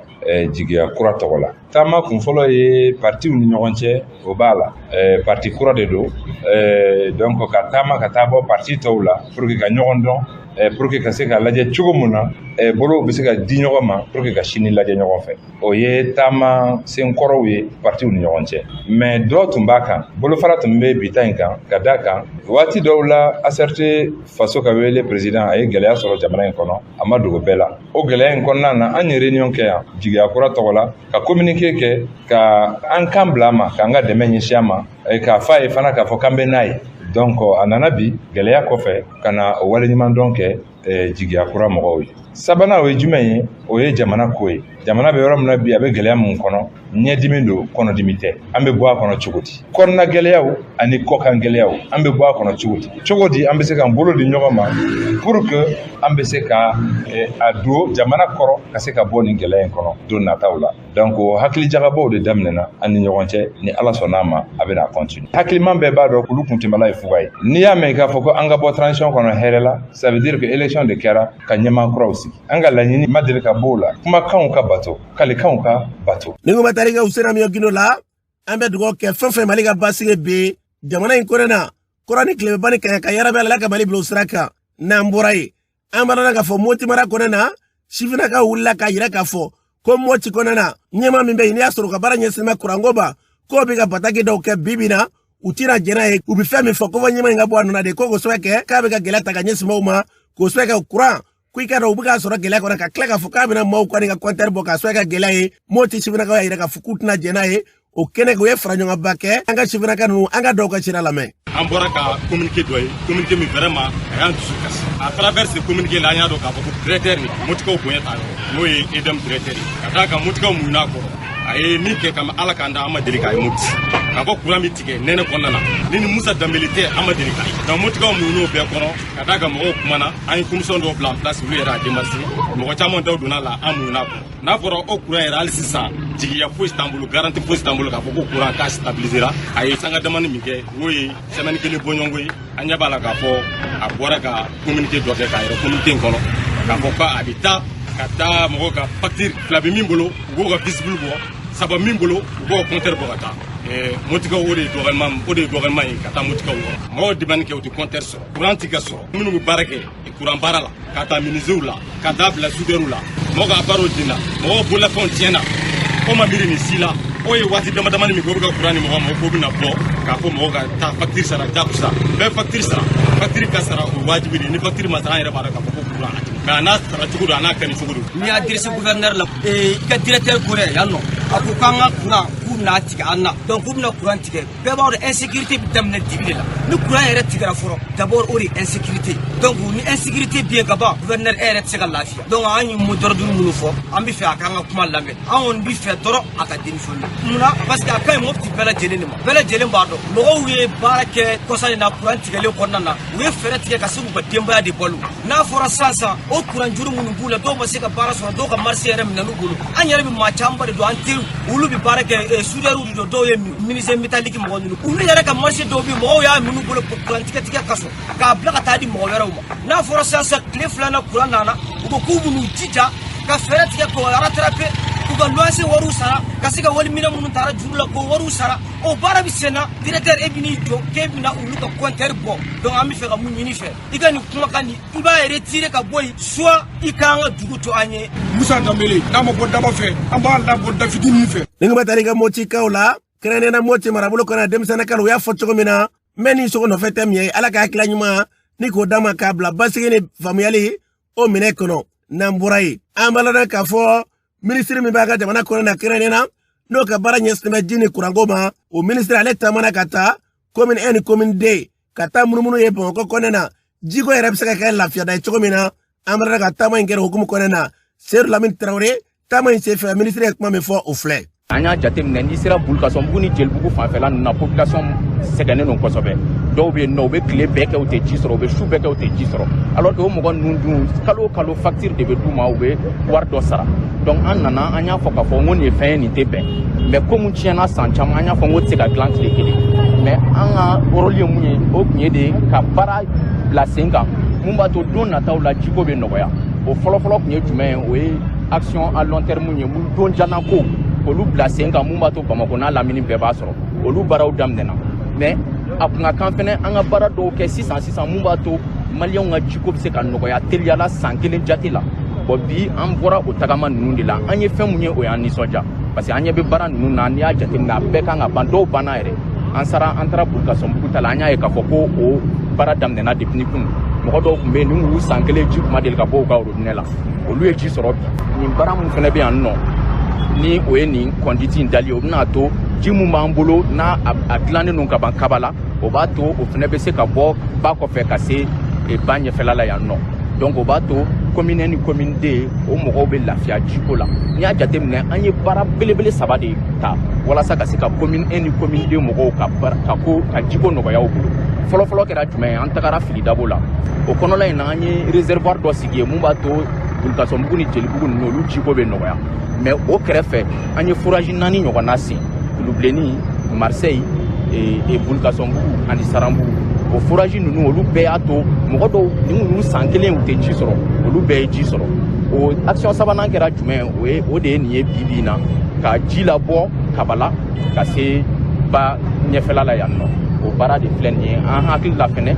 jigiya kura tɔgɔ la taama kun fɔlɔ ye partiw ni ɲɔgɔn cɛ o b'a la parti kura de don donc ka taama ka taa bɔ parti tɔw la pour que ka ɲɔgɔn dɔn pour que ka se ka lajɛ cogo mun na bolow bɛ se ka di ɲɔgɔn ma pour que ka sini lajɛ ɲɔgɔn fɛ o ye taama senkɔrɔw ye partiw ni ɲɔgɔn cɛ mais dɔ tun b'a kan bolofara tun bɛ bi ta in kan ka da a kan waati dɔw la ACRT faso ka wele président a ye gɛlɛya sɔrɔ jamana in kɔnɔ a ma dogo bɛɛ la o gɛlɛya in kɔnɔna na an ye réunion kɛ yan jigiya kura tɔgɔ la ka communiqué kɛ ka an kan bila a ma k'an ka dɛmɛ ɲɛsin a ma k'a fɔ a ye fana k'a fɔ k'an bɛ n'a ye donc a nana bi gɛlɛya kɔfɛ ka na o waleɲuman dɔn kɛ eh, jigiya kura mɔgɔw ye sabanan o ye jumɛn ye o ye jamana ko ye jamana bɛ yɔrɔ min na bi a bɛ gɛlɛya min kɔnɔ ɲɛdimi don kɔnɔdimi tɛ an bɛ bɔ a kɔnɔ cogo di kɔnɔna gɛlɛyaw ani kɔkan gɛlɛyaw an bɛ bɔ a kɔnɔ cogo di cogo di an bɛ se k'an bolo di ɲɔgɔn ma pour que an bɛ se ka eh, a don jamana kɔrɔ ka se ka bɔ nin gɛlɛya in kɔnɔ don nataw la donc o hakili jagabɔw de daminɛna an ni ɲɔgɔn cɛ ni ala sɔnna a ma a bɛna continuer hakiliman bɛɛ b'a dɔn kulu kuntɛmala ye fuga ye n'i y'a mɛn k'a fɔ ko an ka bɔ transition kɔnɔ hɛrɛ la ça veut dire que élection de kɛra ka ɲɛmaa kuraw sigi an ka laɲini ma deli ka b'o la kumakanw ka bato kalikanw ka bato ni kuma tali kɛ useni amiyɔn gindo la an bɛ dugawu kɛ fɛn fɛn mali ka basigi bɛ jamana in kɔnɔ na kɔrɔn ni tilebin ba ni kaɲaga yarabi ala ka mali bila o sira kan n'an bɔra ye an bɛna na k'a fɔ moti mara kɔnɔ na sifinnakaw wulila k'a yira k'a fɔ ko moti kɔnɔ na ɲɛmaa min bɛ yen n'i y'a sɔrɔ ka baara ɲɛsinnen bɛ kuranko ma k'o bɛ ka bataki dɔw kɛ bi bi na u tɛna jɛn'a ye u bɛ fɛn min fɔ ko fo ɲɛmaa in ka bɔ a nɔ na de ko k'o sababu kɛ k'a bɛ ka gɛlɛya ta ka ɲɛsin maaw ma k'o sababu kɛ kuranko i k'a dɔn u bɛ k'a sɔrɔ gɛlɛya kɔnɔ ka tila k'a fɔ k'a bɛna maaw kɔni ka kɔntɛri bɔ k'a sababu kɛ gɛlɛya ye moti sifinnakaw y'a yira k'a fɔ k'u tɛna jɛn'a ye o kɛlen u ye fara ɲɔgɔnba kɛ an ka sifinnaka ninnu an ka dɔw ka cira lamɛn an bɔra ka communiqué dɔ ye communiqué min vraiment a y'an dusu kasi à travers ce communiqué là an y'a dɔn k'a fɔ ko directeur nin motikaw bonya t'a yɔrɔ n'o ye EDM directeur ye ka d'a kan motikaw muɲun'a kɔrɔ a ye min kɛ kabini ala k'an da an ma deli k'a ye moti ka bɔ kuran min tigɛ nɛnɛ kɔnɔna na ni nin musa danbele tɛ an ma deli k'a ye donc motikaw muɲun'o bɛɛ kɔrɔ ka d'a kan mɔgɔw kumana an ye commission dɔw bila en place olu yɛrɛ a démarché mɔgɔ caman daw donn'a la an muɲun'a kɔrɔ n'a fɔra o kuran yɛrɛ hali sisan jigiya foyi t'an bolo garantie foyi t'an bolo k'a fɔ ko kuranko stabilisera a ye sanga damani min kɛ n'o ye semaine kelen bɔɲɔgɔnko ye an ɲɛ b'a la k'a fɔ a bɔra ka communiqué dɔ kɛ k'a yira communiqué in kɔnɔ k'a fɔ ko a bɛ taa ka taa mɔgɔw ka fakitiri fila bɛ min bolo u b'o ka fusible bɔ saba min bolo u b'o kɔntɛri bɔ ka taa motikaw o de ye dɔgɔyama ye ka taa motikaw yɔrɔ mɔgɔw demande kɛ u tɛ kɔntɛri sɔrɔ kuran tɛ ka sɔrɔ minnu bɛ baara kɛ kuran baara la k'a ta menisiyew la ka taa bila sudɛriw la mɔgɔ ka baaraw binna mɔgɔw bololafɛnw tiɲɛna o ma miiri nin si la o ye waati dama damani min kɛ o bɛ ka kuran di mɔgɔ ma k'o bɛna bɔ k'a fɔ mɔgɔ ka taa fakitiri sara jakusa bɛɛ fakitiri sara fakitiri ka sara o wajibi de ni fakitiri ma sara an yɛrɛ b'a dɔn k'a fɔ ko kuran a tigɛ mais a n'a sara cogo don a n'a kɛli cogo don n'i y'a adresser gouverneur la i ka directeur ko dɛ yan nɔ a ko k'an ka kuran k'u bɛna tigɛ an na donc k'u bɛna kuran tigɛ bɛɛ b'a dɔn insécurité bɛ daminɛ dibi de la ni kuran yɛrɛ tigɛra fɔlɔ d'abord o de ye insécurité donc ni insécurité bɛ yen ka ban gouverneur e yɛrɛ tɛ se ka lafiya donc an ye mot d'ordre minnu fɔ an bɛ fɛ a k'an ka kuma lamɛn an kɔni bɛ fɛ dɔrɔn a ka démissionner munna parce que a ka ɲi mɔpti bɛɛ lajɛlen de ma bɛɛ lajɛlen b'a dɔn mɔgɔw ye baara kɛ kɔsa in na kuran tigɛlen kɔnɔna na u ye fɛɛrɛ tigɛ ka se k'u ka denbaya de balo n'a fɔra sisan sisan o kuranjuru minnu b'u la dɔw ma se ka baara sɔrɔ dɔw ka marché yɛrɛ minɛn'u bolo an yɛrɛ bɛ maa camanba de dɔn an teriw olu bɛ baara kɛ eh, soudeurw de don dɔw ye menuisier métallique mɔgɔ ninnu olu yɛrɛ ka marché dɔw bɛ mɔgɔw y'a minɛ u bolo kuran tigɛtigɛ kosɔn k'a bila ka taa di mɔgɔ wɛrɛw ma n'a fɔra sisan sisan tile filanan kuran nana u ko k'u b'u jija ka fɛɛrɛ tigɛ k'o rattraper k'u ka luwanse wariw sara ka se ka waliminɛn minnu tara juru la k'o wariw sara o baara bɛ senna directeur e bɛn'i jɔ k'e bɛna olu ka compteur bɔ donc an b'a fɛ ka mun ɲini i fɛ i ka nin kumakan nin i b'a retirer ka bɔ yen soit i k'an ka dugu to an ye. musa danbele n'a ma bɔ daba fɛ an b'a labɔ dafitinin fɛ. ni kuma taara i ka motikaw la kɛrɛnkɛrɛnnenya na moti marabolo kɔnɔ denmisɛnnin kalo u y'a fɔ cogo min na n bɛ nin sogo nɔfɛ tɛ min ye ala ka hakilila ɲuman ni k'o d'a ma k'a bila basigi ni faamuyali o minɛ kɔnɔ n'an bɔra yen an b'a ladɔn k'a fɔ minisiri min b'an ka jamana kɔnɔ na kɛrɛnnen na n'o ka baara ɲɛsinnen bɛ ji ni kuranko ma o minisiri ale taamana ka taa commune un ni commune deux ka taa munumunu ye bamakɔ kɔnɛ na jiko yɛrɛ bɛ se ka kɛ lafiyada ye cogo min na an b'a ladɔn ka taama in kɛra hukumu kɔnɛ na seyidu lamini tarawele taama in senfɛ minisiri ye kuma min fɔ o filɛ an y'a jateminɛ n'i sera bulukasɔnbugu ni jelibugu fanfɛla ninnu na population sɛgɛnnen don kosɛbɛ dɔw bɛ yen nɔ u bɛ tile bɛɛ kɛ u tɛ ji sɔrɔ u bɛ su bɛɛ kɛ u tɛ ji sɔrɔ alors que o mɔgɔ ninnu dun kalo o kalo facture de bɛ d'u ma u bɛ wari dɔ sara donc an nana an y'a fɔ k'a fɔ n ko nin ye fɛn ye nin tɛ bɛn mais ko mun tiɲɛna san caman an y'a fɔ n k'o tɛ se ka dilan tile kelen mais an ka rôle ye mun ye o tun ye de ka baara bila sen kan mun b'a to don nataw la jiko bɛ nɔgɔya o fɔlɔfɔlɔ tun ye jumɛn ye o ye action à long terme ye mun don janna ko olu bila sen kan mun b'a to bamakɔ n'a lamini bɛɛ b'a sɔrɔ olu baaraw daminɛna mais a kun ka kan fɛnɛ an ka baara dɔw kɛ sisan sisan mun b'a to maliyɛnw ka jiko bɛ se ka nɔgɔya teliya la san kelen jate la bon bi an bɔra o tagama ninnu de la an ye fɛn mun ye o y'an nisɔndiya parce que an ɲɛ bɛ baara ninnu na n'i y'a jateminɛ a bɛɛ kan ka ban dɔw banna yɛrɛ an sera an taara bulukasɔnbugu ta la an y'a ye k'a fɔ ko o baara daminɛna depuis ni kunun mɔgɔ dɔw tun bɛ yen nin y'u san kelen ji kun ma deli ka bɔ u ka orobinɛ la olu ye ji sɔrɔ bi nin baara min fana bɛ yan nɔ ni o ye nin conduite in dali ye o bɛna to ji min b'an bolo n'a a dilannen don ka ban kabala o b'a to o fana bɛ se ka bɔ ba kɔfɛ ka se e, ba ɲɛfɛla la yan nɔ donc o b'a to commune un ni commune deux o mɔgɔw bɛ lafiya jiko la n'i y'a jateminɛ an ye baara belebele saba de ta walasa ka se ka commune un ni commune deux mɔgɔw ka ka ko ka jiko nɔgɔya u bolo fɔlɔfɔlɔ kɛra jumɛn ye an tagara filidabo la o kɔnɔla in na an ye réservoir dɔ sigi yen mun b'a to bulukasɔnbugu ni jelibugu ninnu olu jiko bɛ nɔgɔya mais o kɛrɛfɛ an ye forage naani ɲɔgɔnna sen kulubilennin marseille e, e, bulukasɔnbugu ani saranbugu o forage ninnu olu bɛɛ y'a to mɔgɔ dɔw nin y'u san kelen u tɛ ji sɔrɔ olu bɛɛ ye ji sɔrɔ o action sabanan kɛra jumɛn o ye o de ye nin ye bi bi in na ka ji labɔ kabala ka se ba ɲɛfɛla la yan nɔ o baara de filɛ nin ye an hakili la fɛnɛ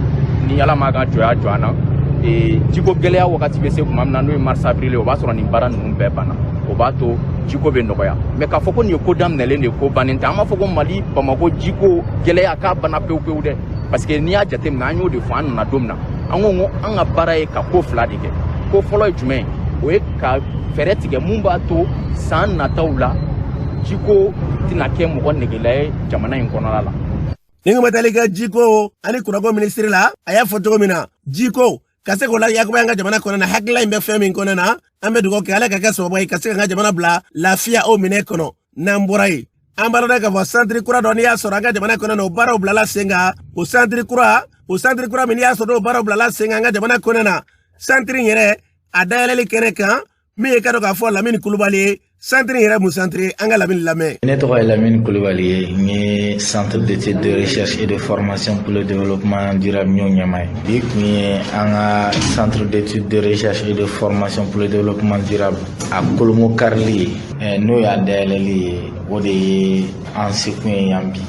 ni ala m'a ka jɔya jɔ an na e, jiko gɛlɛya wagati bɛ se tuma min na n'o ye mars avril o b'a sɔrɔ nin baara ninnu bɛɛ banna o b'a to jiko bɛ nɔgɔya mais k'a fɔ ko nin ye ko daminɛlen de ye ko bannen tɛ an b'a fɔ ko mali bamako jiko gɛlɛya k'a banna pewu pewu dɛ parce que n'i y'a jateminɛ an y'o de fɔ an nana don min na an ko an ka baara ye ka ko fila de kɛ ko fɔlɔ ye jumɛn o ye ka fɛɛrɛ tigɛ mun b'a to san nataw la jiko tɛna kɛ mɔgɔ negela ye jamana in kɔnɔla la nin ko bɛ tali kɛ jiko ani kuranko minisiri la a y'a fɔ cogo min na jiko ka se k'o layakuba an ka jamana kɔnɔ na hakilila in bɛ fɛn min kɔnɔ na an bɛ dugawu kɛ ala k'a kɛ sababu ye ka se ka an ka jamana bila lafiya o minɛ kɔnɔ n'an bɔra yen an b'a dɔn k'a fɔ santiri kura dɔ n'i y'a sɔrɔ an ka jamana kɔnɔ na o baaraw bilala sen kan o santiri kura min n'i y'a sɔrɔ o baaraw bilala sen kan an ka jamana kɔnɔ na santiri in yɛrɛ a dayɛlɛli kɛnɛ kan min ye i k'a dɔn k'a fɔ lamini kulubali ye santiri yɛrɛ mun santiri an ka lamini lamɛn ne tɔgɔ ye lamini kulubali ye n ye centre d'étude de recherche et de formation pour le développement durable ɲɔ ɲɛmaa ye bi tun ye an ka centre d'étude de recherche et de formation pour le développement durable a kolomo karili ye n'o y'a dayɛlɛli ye o de ye an sekun ye yan bi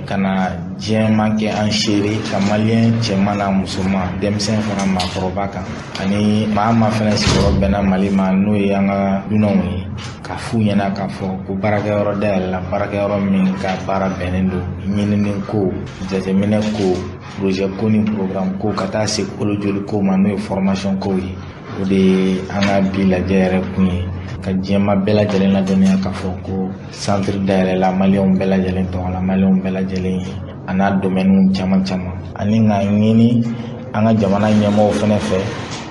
ka na diɲɛmaa kɛ an seere ka maliyɛn cɛman n'a musoman denmisɛn fara maakɔrɔba kan ani maa o maa fɛnɛ sigiyɔrɔ bɛnna mali ma n'o ye an ka dunanw ye k'a f'u ɲɛna k'a fɔ ko baarakɛyɔrɔ dayɛlɛla baarakɛyɔrɔ min ka baara bɛnnen don ɲinini ko jateminɛ ko poroze ko ni porogramu ko ka taa se kolojoli ko ma n'o ye fɔrɔmasɔn kow ye o de ye an ka bi lajɛ yɛrɛ kun ye ka diɲɛmaa bɛɛ lajɛlen ladɔnniya k'a fɔ ko santiri dayɛlɛla maliyɛnw bɛɛ lajɛlen tɔgɔ la maliyɛnw bɛɛ lajɛlen ye a n'a domɛniw caman caman ani k'a ɲini an ka jamana ɲɛmɔgɔw fɛnɛ fɛ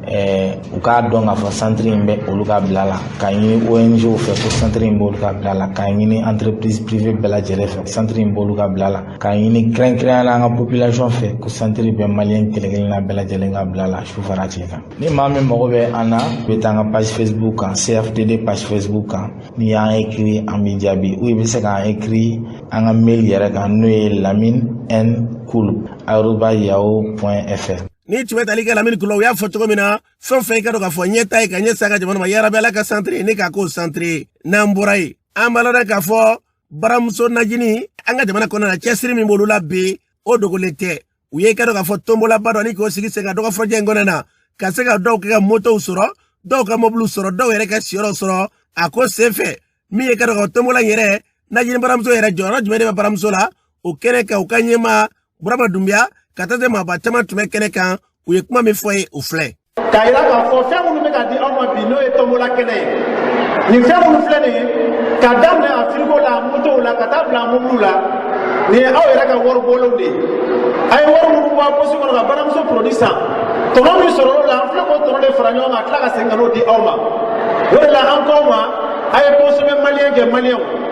Eh, u k'a dɔn k'a fɔ santiri in bɛ olu ka bila la k'a ɲini ong fɛ ko santiri in b'olu ka bila la k'a ɲini entreprise privé bɛɛ lajɛlen fɛ santiri in b'olu ka bila la K'a ɲini kɛrɛnkɛrɛnya la an ka population fɛ ko santiri bɛ maliyɛn kelenkelenna bɛɛ lajɛlen ka bila la su fara tile kan ni maa min mago bɛ an na i bɛ taa an ka page facebook kan cfdd page facebook kan n'i y'an ekiri an b'i jaabi ou i bɛ se k'an ekiri an ka mail yɛrɛ kan n'o ye lamine n cool aroba yahoo point fr nin tun bɛ tali kɛ lamini kula u y'a fɔ cogo min na fɛn o fɛn i k'a dɔn k'a fɔ ɲɛtaa ye ka ɲɛsin an ka jamana ma yarabi ala ka santiri in ka k'o santiri ye n'an bɔra yen an b'a dɔn k'a fɔ baramuso najini an ka jamana kɔnɔna na cɛsiri min b'olu la bi o dogolen tɛ u ye i k'a dɔn k'a fɔ tonbolaba dɔ ni k'o sigi sen kan dɔgɔ fɔjɛ in kɔnɔna na ka se ka dɔw kɛ ka motow sɔrɔ dɔw ka mɔbiliw sɔrɔ dɔw yɛrɛ ka siyɔrɔw sɔrɔ a ko sen fɛ min ye i k'a dɔn k'a fɔ tonbola in yɛrɛ najini baramuso yɛrɛ jɔyɔrɔ jumɛn de bɛ baramuso la o kɛnɛ kan u ka ɲɛmaa burama dunbiya ka taa se maaba caman tun bɛ kɛnɛ kan u ye kuma min fɔ ye o filɛ k'a yira k'a fɔ fɛn minnu bɛ ka di aw ma bi n'o ye tombola kɛnɛ ye nin fɛn minnu filɛ nin ye k'a daminɛ a firigo la a motow la ka taa bila a mobiliw la nin ye aw yɛrɛ ka wari bɔlenw de ye a ye wari minnu bɔ a posi kɔnɔ ka baramuso produit san tɔnɔ min sɔrɔla o la an filɛ k'o tɔnɔ de fara ɲɔgɔn kan ka tila ka segin ka n'o di aw ma o de la an k'aw ma a ye consommé maliyɛn kɛ maliyɛnw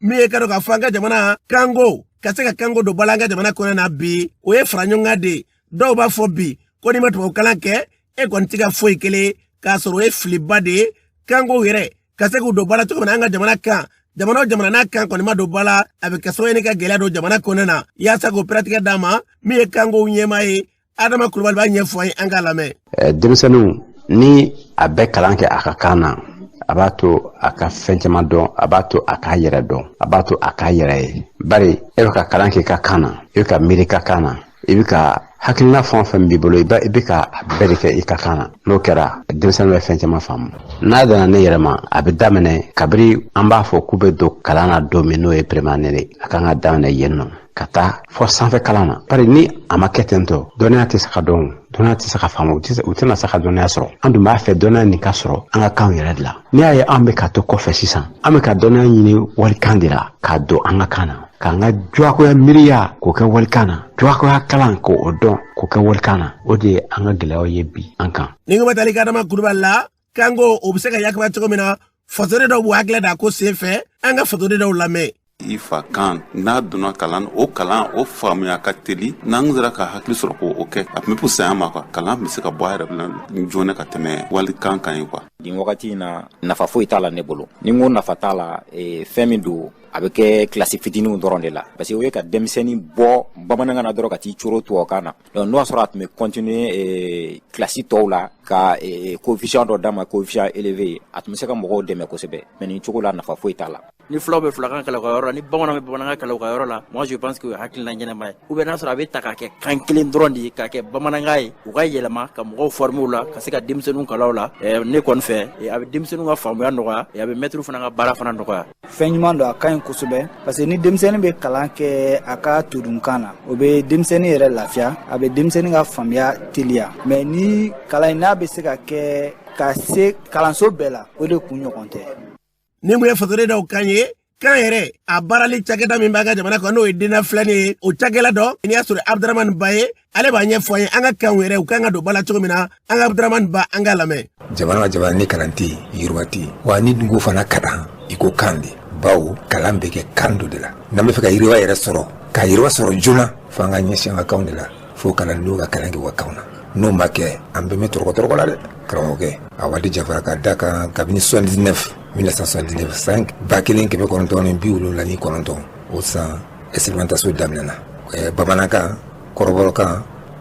min ye k'a dɔn k'a fɔ an ka jamana kanko ka se ka kanko don ba la an ka jamana kɔnɔ na bi o ye fara ɲɔgɔn kan de ye dɔw b'a fɔ bi ko n'i ma tubabukalan kɛ e kɔni tɛ ka foyi kelen k'a sɔrɔ o ye filiba de ye kankow yɛrɛ ka se k'u don ba la cogo min na an ka jamana kan jamana o jamana n'a kan kɔni ma don ba la a bɛ kɛ sababu ye ni ka gɛlɛya don jamana kɔnɔna na yaasa k'o pɛrɛtigɛ d'a ma min ye kankow ɲɛmaa ye adama kulubali b'a ɲɛfɔ an ye an k'a lamɛn denmisɛnninw ni a bɛ kalan kɛ a ka kan na a b'a to a ka fɛn caman dɔn a b'a to a k'a yɛrɛ dɔn a b'a to a k'a yɛrɛ ye bari e bɛ ka kalan kɛ i ka kan na i bɛ ka miiri i ka kan na i bɛ ka hakilina fɛn o fɛn b'i bolo i bɛ i bɛ ka a bɛɛ de kɛ i ka kan na n'o kɛra denmisɛnnin bɛ fɛn caman faamu n'a danna ne yɛrɛ ma a bɛ daminɛ kabiri an b'a fɔ k'u bɛ don kalan na don min n'o ye première année a kan ka daminɛ yen nɔ ka taa fɔ sanfɛ kalan na bari ni a ma kɛ ten tɔ dɔnniya tɛ se ka dɔn dɔnniya tɛ se ka faamu u tɛna se ka dɔnniya sɔrɔ an dun b'a fɛ dɔnniya nin ka sɔrɔ an ka kanw yɛrɛ de la n'i y'a ye an bɛ ka to kɔfɛ sisan an bɛ ka dɔnniya ɲini walikan de la k'a don an ka kan na k'an ka jagoya miiriya k'o kɛ walikan na jagoya kalan k'o dɔn k'o kɛ walikan na o de ye an ka gɛlɛyaw ye bi an kan nin kuma talen kɔ adama kulubali la kanko o bɛ se ka yakubaya cogo min na fasoden dɔw b'u hakili d'a ko sen fɛ an ka fasoden dɔw lamɛn i fakan n'a donna kalan o kalan o faamuya ka teli n'an sera ka hakili sɔrɔ k'o kɛ a tun bɛ pusaya an ma kuwa kalan bɛ se ka bɔ a yɛrɛ bila joona ka tɛmɛ walikan kan ye kuwa nin wagati in na nafa foyi t'a la ne bolo ni n ko nafa t'a la eh, fɛn min don a bɛ kɛ kilasi fitiniw dɔrɔn de la parce que o ye ka denmisɛnnin bɔ bamanankan na dɔrɔn ka t'i coro tubabukan na Donc n'o y'a sɔrɔ a tun bɛ continuer ee classe tɔw la ka ee coefficient dɔ d'a ma coefficient élevé a tun bɛ se ka mɔgɔw dɛmɛ kosɛbɛ mais nin cogo la nafa foyi t'a la. ni fulaw bɛ fulakan kalan u ka yɔrɔ la ni bamananw bɛ bamanankan kalan u ka yɔrɔ la moi je pense que o ye hakilina ɲɛnama ye ou bien n'a sɔrɔ a bɛ ta k'a kɛ kan kelen dɔrɔn de ye k'a kɛ bamanankan ye u ka yɛlɛma ka mɔgɔw former o la ka se ka denmisɛnninw kalan o la ne kɔni fɛ a bɛ denmisɛnninw ka faamuya nɔgɔya a bɛ mɛtiriw fana ka baara fana nɔgɔya. fɛn ɲuman don a ka ɲi kosɛbɛ parce que ni denmisɛnnin bɛ kalan kɛ a ka todunkan na o bɛ denmisɛnnin yɛrɛ lafiya a bɛ denmisɛnnin ka faamuya teliya mɛ ni kalan in n'a bɛ se ka kɛ ka se kalanso bɛɛ la o de kun ɲɔgɔn tɛ nin kun ye fasoden dɔw kan ye kan yɛrɛ a baarali cakɛda min b'an ka jamana kɔnɔ n'o ye DNENF-LN ye o cakɛla dɔ n'o ye sori abdramani ba ye ale b'a ɲɛfɔ an ye an ka kanw yɛrɛ u kan ka don ba la cogo min na an ka abdramani ba an k'a lamɛn jamana o jamana ni kalan tɛ yiriwa tɛ wa n'i dun ko fana kalan i ko kan de bawo kalan bɛ kɛ kan dɔ de la n'an bɛ fɛ ka yiriwa yɛrɛ sɔrɔ ka yiriwa sɔrɔ joona fo an ka ɲɛsin an ka kanw de la fo kalandenw ka kalan kɛ u ka kanw na n'o ma kɛ an bɛɛ bɛ tɔrɔkɔtɔrɔkɔ la dɛ karamɔgɔkɛ a waati jafara ka da kan kabini 79 1979 san ba kelen kɛmɛ kɔnɔntɔn ni bi wolonwula ni kɔnɔntɔn o san Expérimentation daminɛna bamanankan kɔrɔbɔrɔkan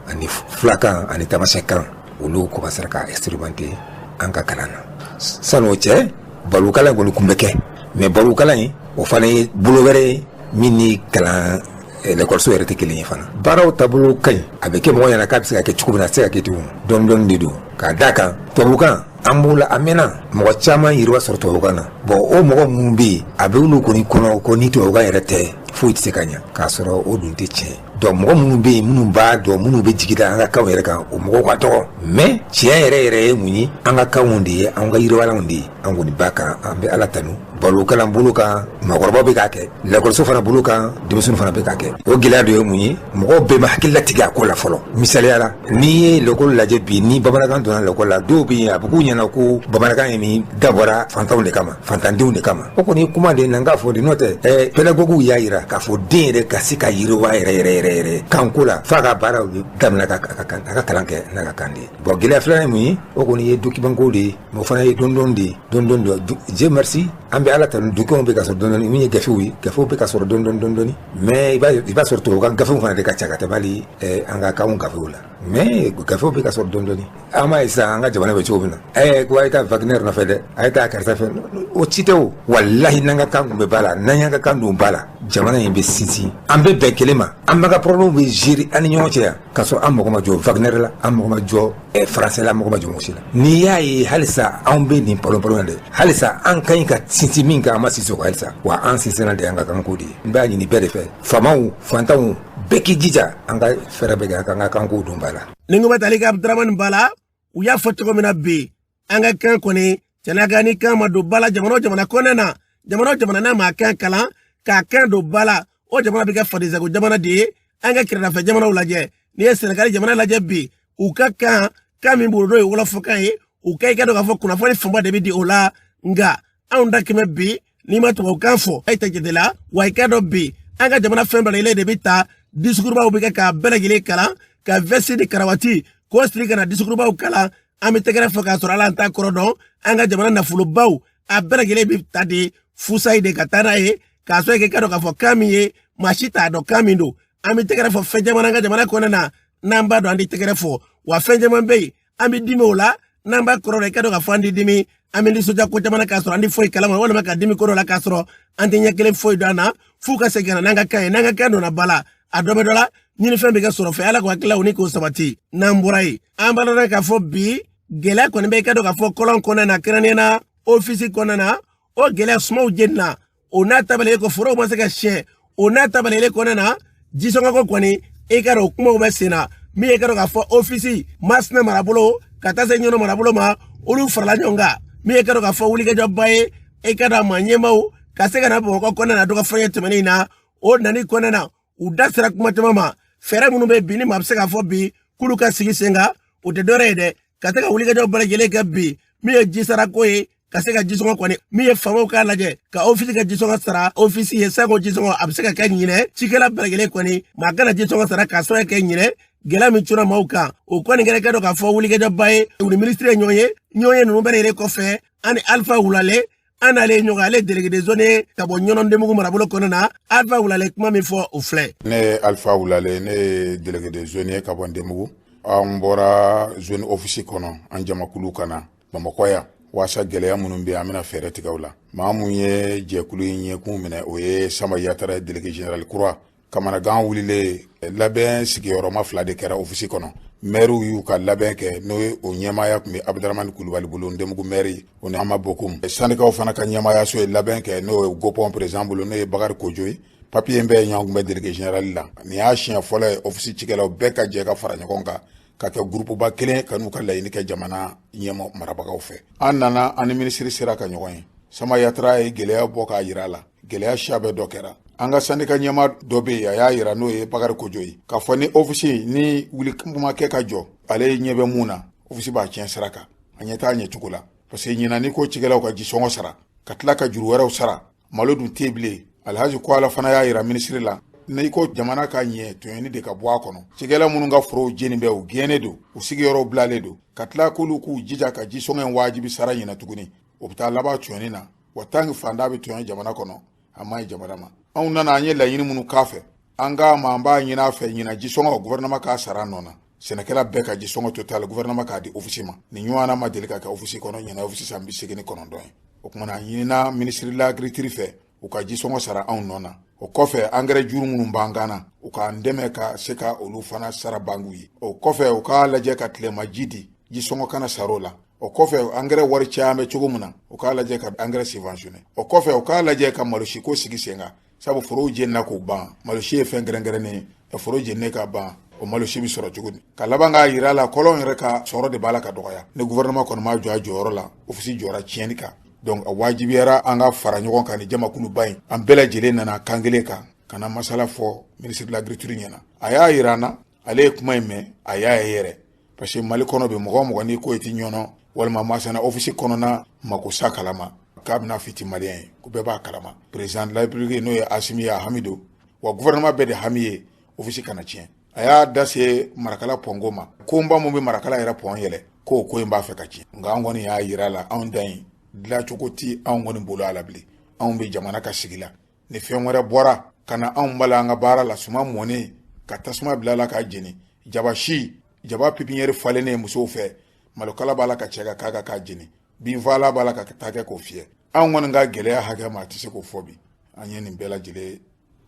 ani fulakan ani tamasɛkan olu commencera ka expérimenter an ka kalan na sani o cɛ balikukalan kɔni tun bɛ kɛ mais balikukalan in o fana ye bolo wɛrɛ ye min ni kalan lakɔliso yɛrɛ tɛ kelen ye fana baaraw taabolo ka ɲi a bɛ kɛ mɔgɔ ɲɛna k'a bɛ se ka kɛ cogo min na a tɛ se ka kɛ ten dɔɔni dɔɔni de don k'a da a kan tubabukan An b'o la a mɛnna mɔgɔ caman yiriwa sɔrɔ tubabukan na bon o mɔgɔ minnu bɛ yen a bɛ olu kɔni kɔnɔ ko ni tubabukan yɛrɛ tɛ foyi tɛ se ka ɲɛ k'a sɔrɔ o dun tɛ tiɲɛ donc mɔgɔ minnu bɛ yen minnu b'a dɔn minnu bɛ jigi da an ka kanw yɛrɛ kan o mɔgɔw ka dɔgɔ mais tiɲɛ yɛrɛ yɛrɛ ye mun ye an ka kanw de ye an ka yiriwalanw de ye an kɔni b'a kan an bɛ ala tanu balikukalan bolo kan mɔgɔkɔrɔbaw bɛ k'a kɛ lakɔliso fana bolo kan denmisɛnw fana bɛ k'a kɛ o gɛlɛya dɔ ye mun ye mɔgɔw bɛɛ ma hakili latigɛ a ko la fɔlɔ misaliya la n'i ye lekɔli lajɛ bi ni bamanankan donna lekɔli la dɔw bɛ yen a bɛ k'u ɲɛna ko bamanankan in nin dabɔra fantanw de kama fantandenw de kama o kɔni kuma de na n k'a fɔ de n'o tɛ ɛɛ pédagogues y'a jira k'a fɔ den yɛrɛ ka se ka yiriwa yɛrɛ yɛrɛ yɛrɛ yɛrɛ kanko la f'a ka baaraw bɛɛ daminɛ ka a ka kalan kɛ n'a ka kan de ye bon gɛlɛya filanan ye mun ye o kɔni ye document ko de ye o fana ye dɔɔni dɔɔni de ye dɔɔni dɔɔni dieu merci an bɛ ala tanu documentw bɛ ka sɔrɔ dɔɔni dɔɔni min ye gafew ye gafew bɛ ka sɔrɔ dɔɔni dɔɔni dɔɔni dɔɔni mais i b'a sɔrɔ tubabukan gafew fana de ka ca ka tɛmɛ hali an ka kan gafew la mais gafew bɛ ka sɔrɔ dɔɔni dɔɔni an m'a ye sisan an ka jamana bɛ cogo min na ɛ ko a ye taa Wagner nɔfɛ dɛ a ye taa karisa fɛ o si tɛ walayi n'an ka kan tun bɛ ba la n'an y'an ka kan don ba la jamana in bɛ sinsin an bɛ bɛn kelen ma an b'an ka problèmew bɛɛ gérer an ni ɲɔgɔn cɛ yan k'a sɔrɔ an mago ma jɔ Wagner la an mago ma jɔ français la an mago ma jɔ mɔgɔ si la n'i y'a ye halisa anw bɛ nin panp in dɛ halisa an ka ɲi ka sinsin min kan an ma sinsin o kan halisa wa an sinsinnan ye an ka kanko de ye n b'a ɲini bɛɛ de fɛ faamaw fantanw bɛɛ k'i jija an ka fɛɛrɛ bɛɛ kɛ an k'an ka kanko don ba la ni ko bɛ tali kɛ abudramani ba la u y'a fɔ cogo min na bi an ka kan kɔni cɛnaka ni kan ma don ba la jamana o jamana kɔnɔna na jamana o jamana n'a ma kan kalan k'a kan don ba la o jamana bɛ kɛ fadensago jamana de ye an ka kɛrɛdafɛ jamanaw lajɛ n'i ye sɛnɛgali jamana lajɛ bi u ka kan kan min b'u bolo n'o ye wɔlɔfɔkan ye u ka i k'a dɔn k'a fɔ kunnafoni fanba de bɛ di o la nka anw da kɛmɛ bi n'i ma tubabukan fɔ e tɛ jate la wa i k'a dɔn bi an ka jamana fɛn bɛɛ lajɛlen de bɛ ta disukurubaw bɛ kɛ k'a bɛɛ lajɛlen kalan ka vɛsi ni karawati k'o siri ka na disukurubaw kalan an bɛ tɛgɛrɛ fɔ k'a sɔrɔ ala an t'a kɔrɔ dɔn an ka jamana nafolobaw a bɛɛ lajɛlen bɛ ta de fusayi de ka taa n'a ye k'a sɔrɔ i k'a dɔn k'a fɔ kan min ye maa si t'a dɔn kan min don an bɛ tɛgɛrɛ fɔ fɛn caman an ka jamana kɔnɔna na n'an b'a dɔn an tɛ tɛgɛrɛ fɔ wa fɛn caman bɛ yen an bɛ dimi o la n'an b'a kɔrɔ la i k'a dɔn k'a fɔ an tɛ dimi an bɛ nisɔndiya ko caman k'a sɔrɔ an tɛ foyi kalama walima ka dimi ko dɔ la k'a sɔrɔ an tɛ ɲɛ kelen foyi dɔn an na f'u ka segin ka na n'an ka kan ye n'an ka kan donna ba la a dɔ bɛ dɔ la ɲinifɛn bɛ kɛ sɔrɔfɛn ala k'o hakililaw ni k'o sabati n'an bɔra yen an b'a dɔn k'a fɔ bi gɛlɛya kɔni bɛ i k'a dɔn k'a fɔ kɔlɔn kɔnɔna na kɛrɛnkɛrɛnnenya na ofisi kɔnɔna na o gɛlɛya sumanw jenina o n'a ta bɛɛ lajɛlen ko forow ma se ka sɛnɛ o n'a ta bɛɛ lajɛlen kɔnɔna na jisɔngɔko kɔni i k'a dɔn o kumaw bɛ sen na min ye k'a dɔn k'a fɔ ofisi masina marabolo ka taa se ɲɔnɔ marabolo ma olu farala ɲɔgɔn kan min ye k'a dɔn k'a fɔ wulikajɔba ye i k'a dɔn a maa ɲɛmaaw ka se ka na bamakɔ kɔnɔna na dɔgɔfɔɲɛ tɛmɛnen in na o nani kɔnɔna na u da sera kuma caman ma fɛɛrɛ minnu bɛ bi ni maa bɛ se k'a fɔ bi k'olu ka sigi sen kan o tɛ dɔwɛrɛ ye dɛ ka se ka wulikajɔw bɛɛ lajɛlen kɛ bi min ye jisarako ye ka se ka jisɔngɔ kɔni min ye faamaw k'a lajɛ ka ofisi ka jisɔngɔ sara ofisi ye sanko jisɔngɔ a bɛ se ka kɛ ɲinan cikɛla bɛɛ lajɛlen kɔni maa kana jisɔngɔ sara k'a sɔrɔ ko ɲinan gɛlɛya min cunna maaw kan o kɔni kɛra i k'a dɔn k'a fɔ wulikajɔba ye u ni minisiri ye ɲɔgɔn ye ɲɔgɔnye ninnu bɛɛ yɛrɛ kɔfɛ an ni alifa wulale an n'ale ye ɲɔgɔn ale delege de zone ye ka bɔ ɲɔnɔ ndenbugu marabolo kɔnɔ na alifa wulale kuma min fɔ o filɛ ne ye alifa wulale ne ye delege de zone ye ka bɔ ndenbugu an bɔra zone ofisi kɔnɔ an jamakulu ka na bamakɔ yan waasa gɛlɛya minnu bɛ an bɛna fɛɛrɛ tigɛ u la maa mun ye jɛkulu in ɲɛkun minɛ o ye sama yatara ye delege general kura kamanagan wulilen labɛn sigiyɔrɔma fila de kɛra ofisi kɔnɔ mɛriw y'u ka labɛn kɛ n'o ye o ɲɛmaaya tun bɛ abudramani kulubali bolo ndemugu mɛri o ni ama bokum sandikaw fana ka ɲɛmaayaso ye labɛn kɛ n'o ye gopɔn perezan bolo n'o ye bakari kojo ye papiye in bɛɛ ɲɔgɔn kunbɛn delege generali la nin y'a siɲɛ fɔlɔ ye ofisi cikɛlaw bɛɛ ka jɛ ka fara ɲɔgɔn kan ka kɛ gurupuba kelen ka n'u ka laɲini kɛ jamana ɲɛmɔ marabagaw fɛ an nana an ni minisiri sera ka ɲɔgɔn ye sama yatara ye gɛlɛya bɔ k'a yira a la gɛlɛya siya bɛɛ dɔ kɛra an ka sandika ɲɛmaa dɔ bɛ yen a y'a yira n'o ye bakari kojo ye k'a fɔ ni ofisi ni wuliko ma kɛ ka jɔ ale ɲɛ bɛ mun na ofisi b'a tiɲɛ sira kan a ɲɛ t'a ɲɛcogo la parce que ɲinan n'i ko cikɛlaw ka jisɔngɔ sara ka tila ka juru wɛrɛw sara malo dun tɛ bilen alhaji kola fana y'a yira minisiri la n'i ko jamana ka ɲɛ tɔɲɔni de ka bɔ a kɔnɔ cikɛla minnu ka forow jeni bɛ u gɛnnen don u sigiyɔrɔw bilalen don ka tila k'olu k'u jija ka jisɔngɔ in wajibi sara ɲinan tuguni o bɛ taa laban tɔɲɔni na wa tant que faantan bɛ tɔɲɔ jamana kɔnɔ a ma ɲi jamana ma anw nana an ye laɲini minnu k'a fɛ an k'a ma an b'a ɲini a fɛ ɲinan jisɔngɔ gouvernement k'a sara nɔ na sɛnɛkɛla bɛɛ ka jisɔngɔ total gouvernement k'a di ofisi ma nin ɲɔgɔnna ma deli ka kɛ ofisi kɔnɔ ɲinan ofisi san bi seegin ni kɔnɔntɔn ye o tuma na a ɲinina minisiri de l'agriculture fɛ u ka jisɔngɔ sara anw nɔ na o kɔfɛ angɛrɛ juru minnu b'an kan na u k'an dɛmɛ ka se ka olu fana sara bankiw ye o kɔfɛ u k'a lajɛ ka tilema ji di jisɔngɔ kana sara o la o kɔfɛ angɛrɛ wari caman bɛ cogo min na u k'a lajɛ ka angɛrɛ subventionner o kɔfɛ u k'a lajɛ ka malosiko sigi sen kan sabu forow jenina k'u ban malosi ye fɛn kɛrɛnkɛrɛnnen ye ka foro jeni ka ban o malosi bɛ sɔrɔ cogo di ka laban k'a yira a la kɔlɔn yɛrɛ ka sɔrɔ de b'a la ka dɔgɔya ni gouvernement kɔni ma jɔ a jɔyɔrɔ la ofisi jɔra tiɲɛni kan donc a wajibiyara an ka fara ɲɔgɔn kan ni jamakuluba in an bɛɛ lajɛlen nana kan kelen kan ka na masala fɔ minisiri de l'agriculture ɲɛ na a y'a yira an na ale ye kuma in mɛn a y'a ye yɛrɛ parce que mali kɔnɔ bɛ mɔgɔ o mɔgɔ n'i ko i tɛ ɲɔnɔ walima masina ofisi kɔnɔna makosa kalama k'a bɛna f'i tɛ maliyɛn ye ko bɛɛ b'a kalama président de la république n'o ye asimi ye a hami don wa gouvernement bɛɛ de hami ye ofisi kana tiɲɛ a y'a da se marakala pɔnko ma konba min bɛ marakala yɛrɛ pɔn yɛlɛ k'o ko in b'a fɛ ka tiɲɛ nka an kɔni y'a yira a la anw dan ye dilancogo ti anw kɔni bolo a la bilen anw bɛ jamana ka sigi la ni fɛn wɛrɛ bɔra ka na anw bala an ka baara la suman mɔnen ka tasuma bila a la k'a jeni jaba si jaba pépinière falennen musow fɛ malokala b'a la ka cɛ ka k'a kan k'a jeni binfaalan b'a la ka taa kɛ k'o fiyɛ anw kɔni ka gɛlɛya hakɛ maa tɛ se k'o fɔ bi an ye nin bɛɛ lajɛlen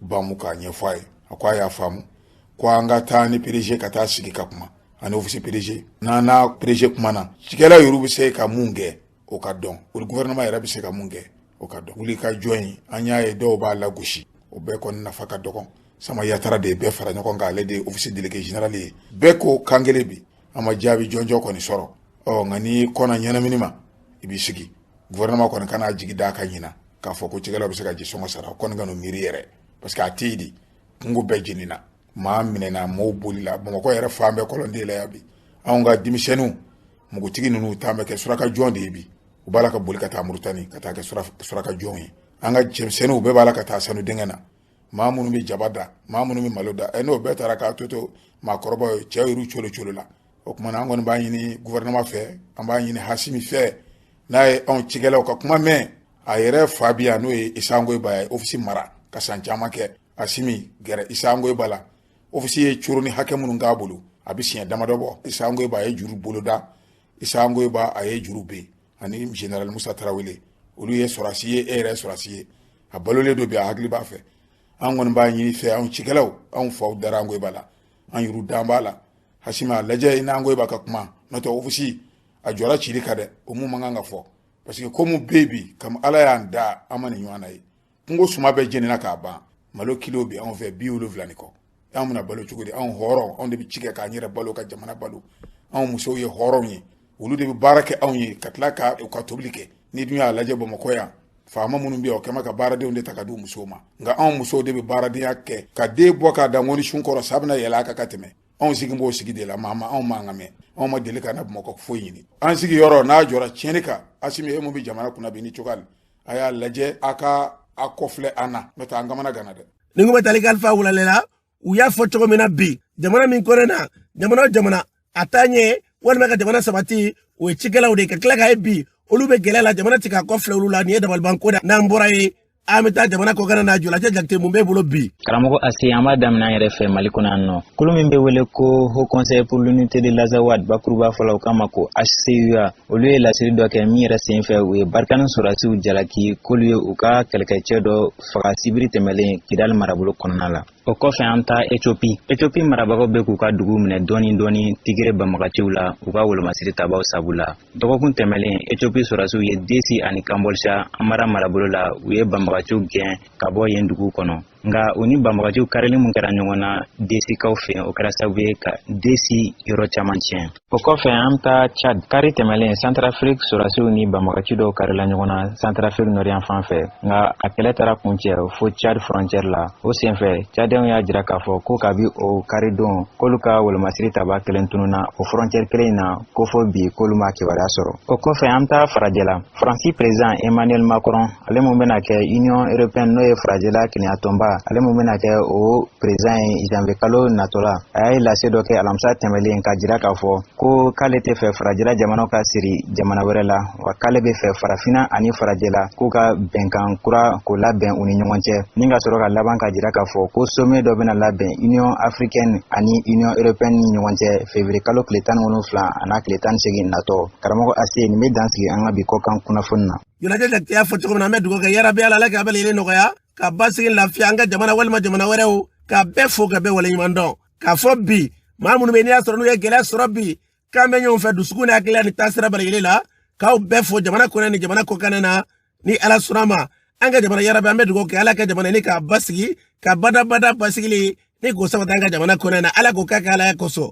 bamu k'a ɲɛfɔ a ye a ko a y'a faamu ko an ka taa ni PDG ka taa sigi ka kuma ani ofisi PDG n'an n'a PDG kumana cikɛla yɛrɛ bɛ se ka mun kɛ o ka dɔn o gouvernement yɛrɛ bɛ se ka mun kɛ o ka dɔn wulikajɔ in an y'a ye dɔw b'a lagosi o bɛɛ kɔni nafa ka dɔgɔ sama yatara de ye bɛɛ fara ɲɔgɔn kan ale de ye ofisi délégué général ye bɛɛ ko kan kelen bi an ma jaabi jɔnjɔn kɔni sɔrɔ ɔ nka ni kɔna ɲɛnamini ma i b'i sigi gouvernement kɔni kana jigi da a kan ɲinan k'a fɔ ko cikɛlaw bɛ se ka jisɔngɔ sara o kɔni kan'o miiri yɛrɛ parce que a tɛ yen dɛ kungo bɛɛ jenina maa minɛna maaw bolila bamakɔ yɛrɛ fan bɛɛ kɔlɔnden la yan bi anw ka denmisɛnninw mugutigi ninnu taa bɛ kɛ suraka jɔn de ye bi u b'a la ka boli ka taa moritani ka taa kɛ suraka jɔn ye an ka cɛmisɛnninw bɛɛ b'a la ka taa sanu dingɛ na maa minnu bɛ jaba da maa minnu bɛ malo da ɛ n'o bɛɛ taara k'a tɔ to maakɔrɔbaw ye cɛw y'u colo colo la o tuma na an kɔni b'a ɲini gouvernement fɛ an b'a ɲini asimi fɛ n'a ye anw cikɛlaw ka kuma mɛn a yɛrɛ fa bi yan n'o ye isa ongoyiba ye ofisi mara ka san caman kɛ asimi gɛrɛ isa ongoyiba la ofisi ye coro ni hakɛ minnu k'a bolo a bɛ siɲɛ damadɔ bɔ isa ongoyiba a ye juru boloda isa ongoyiba a ye juru bin ani general musa tarawele olu ye sɔrɔsi ye e yɛrɛ sɔrɔsi ye a balolen don bi a hakili b'a fɛ an kɔni b'a ɲini fɛ anw cikɛlaw anw faw dara ongoyiba la an yuru dan b'a la hasimi a lajɛ i n'ongoyiba ka kuma n'o tɛ ofisi a jɔra cili kan dɛ o mun man kan ka fɔ parce que komi bɛ bi kam ala y'an da an ma nin ɲɔgɔn na ye kungo suma bɛɛ jenina k'a ban malo kilo bɛ anw fɛ bi wolonwula ni kɔ anw bɛna balo cogo di anw hɔrɔn anw de bɛ ci kɛ k'an yɛrɛ balo ka jamana balo anw musow ye hɔrɔnw ye olu de bɛ baara kɛ anw ye ka tila ka u ka tobili kɛ n'i dun y'a lajɛ bamakɔ yan faama minnu bɛ yen o kɛma ka baaradenw de ta ka di u musow ma nka anw musow de bɛ baaradenya kɛ ka den bɔ k'a da ŋɔni sun kɔrɔ sa bɛna yɛlɛ a kan ka tɛmɛ anw sigi b'o sigi de la maa ma anw mankan mɛn anw ma deli ka na bamakɔ foyi ɲini an sigi yɔrɔ n'a jɔra tiɲɛni kan asimi e min bɛ jamana kunna bi nin cogoya a y'a lajɛ a ka a kɔfilɛ an na n'o tɛ an kamana ganna dɛ ni ko bɛ tali kalifa wulalela u y'a fɔ cogo min na bi jamana min kɔnɔna jamana o jamana a taa ɲɛ walima ka jamana sabati o ye cikɛlaw de ye ka tila k'a ye bi olu bɛ gɛlɛya la jamana tɛ ka kɔfilɛ olu la nin ye dabaliban ko da n'an bɔra yen an bɛ taa jamana kɔkan na jolajɛ jakite mun b'e bolo bi karamɔgɔ asi an b'a daminɛ an yɛrɛ fɛ mali kɔnɔ yan jɛkulu min bɛ wele ko haut conseil pour l'unité de l'azawad bakuruba fɔlɔ o kama ko hcua olu ye laseli dɔ kɛ min yɛrɛ sen fɛ u ye barikani sɔrɔdasiw jalaki k'olu ye u ka kɛlɛkɛcɛ dɔ faga sibiri tɛmɛlen kidali marabolo kɔnɔna la o kɔfɛ an taa etiopi etiopi marabagaw bɛ k'u ka dugu minɛ dɔɔni dɔɔni tigere banbagaciw la u ka wolomasiri tabaw sabu la dɔgɔkun tɛmɛlen etiopi sɔrɔdasiw ye desi ani kanbɔlisa amara marabolo la u ye banbagaciw gɛn ka bɔ yen dugu kɔnɔ nka u ni banbagaciw karili min kɛra ɲɔgɔn na desikaw fɛ o kɛra sababu ye ka desi yɔrɔ caman tiɲɛ o kɔfɛ an bɛ taa chad kari tɛmɛlen santarafiriki sorasiw ni banbagaci dɔw karila ɲɔgɔn na santarafiriki nɔri yanfan fɛ nka a kɛlɛ taara kuncɛ fo chad frontiɛri la o senfɛ cadɛnw y'a jira k'a fɔ ko kabi o kari don k'olu ka wolomasiri taba kelen tununa o frontiɛri kelen in na ko fo bi k'olu m'a kibaruya sɔrɔ o kɔfɛ an bɛ taa farajɛla faransi perezidan emmanuel macron ale min bɛna kɛ union européenne n'o ye farajɛla kelenya tɔnba ale min bɛna kɛ o perezidan ye janvier kalo natɔ la a ye lase dɔ kɛ alamisa tɛmɛlen k'a jira k'a fɔ ko k'ale t'a fɛ farajɛla jamanaw ka siri jamana wɛrɛ la wa k'ale b'a fɛ farafina ani farajɛla k'u ka bɛnkan kura k'o labɛn u ni ɲɔgɔn cɛ ni ka sɔrɔ ka laban k'a jira k'a fɔ ko sommet dɔ bɛna labɛn union africaine ani union européenne ni ɲɔgɔn cɛ février kalo tile tan ni wolonwula an'a tile tan ni segin natɔ karamɔgɔ ase nin bɛ dan sigi an ka bi kɔkan kunnafoni na ɲɛnajɛ jakite y'a fɔ cogo min na an bɛ dugawu kɛ yarabi ala ala k'a bɛɛ lajɛlen nɔgɔya ka basigi lafiya an ka jamana walima jamana wɛrɛw ka bɛɛ fo ka bɛɛ waleɲuman dɔn k'a fɔ bi maa minnu bɛ n'i y'a sɔrɔ n'u ye gɛlɛya sɔrɔ bi k'an bɛ ɲɔgɔn fɛ dusukun ni hakilila ni taasira bɛɛ lajɛlen la k'aw bɛɛ fo jamana kɔnɔ ni jamana kɔkan na ni ala sɔnna ma an ka jamana yarabi an bɛ dugawu kɛ ala ka jamana nin k'a basigi ka badabada basigili nin k'o sabati an ka jamana kɔnɔ na ala k'o k'a kɛ ala kosɔn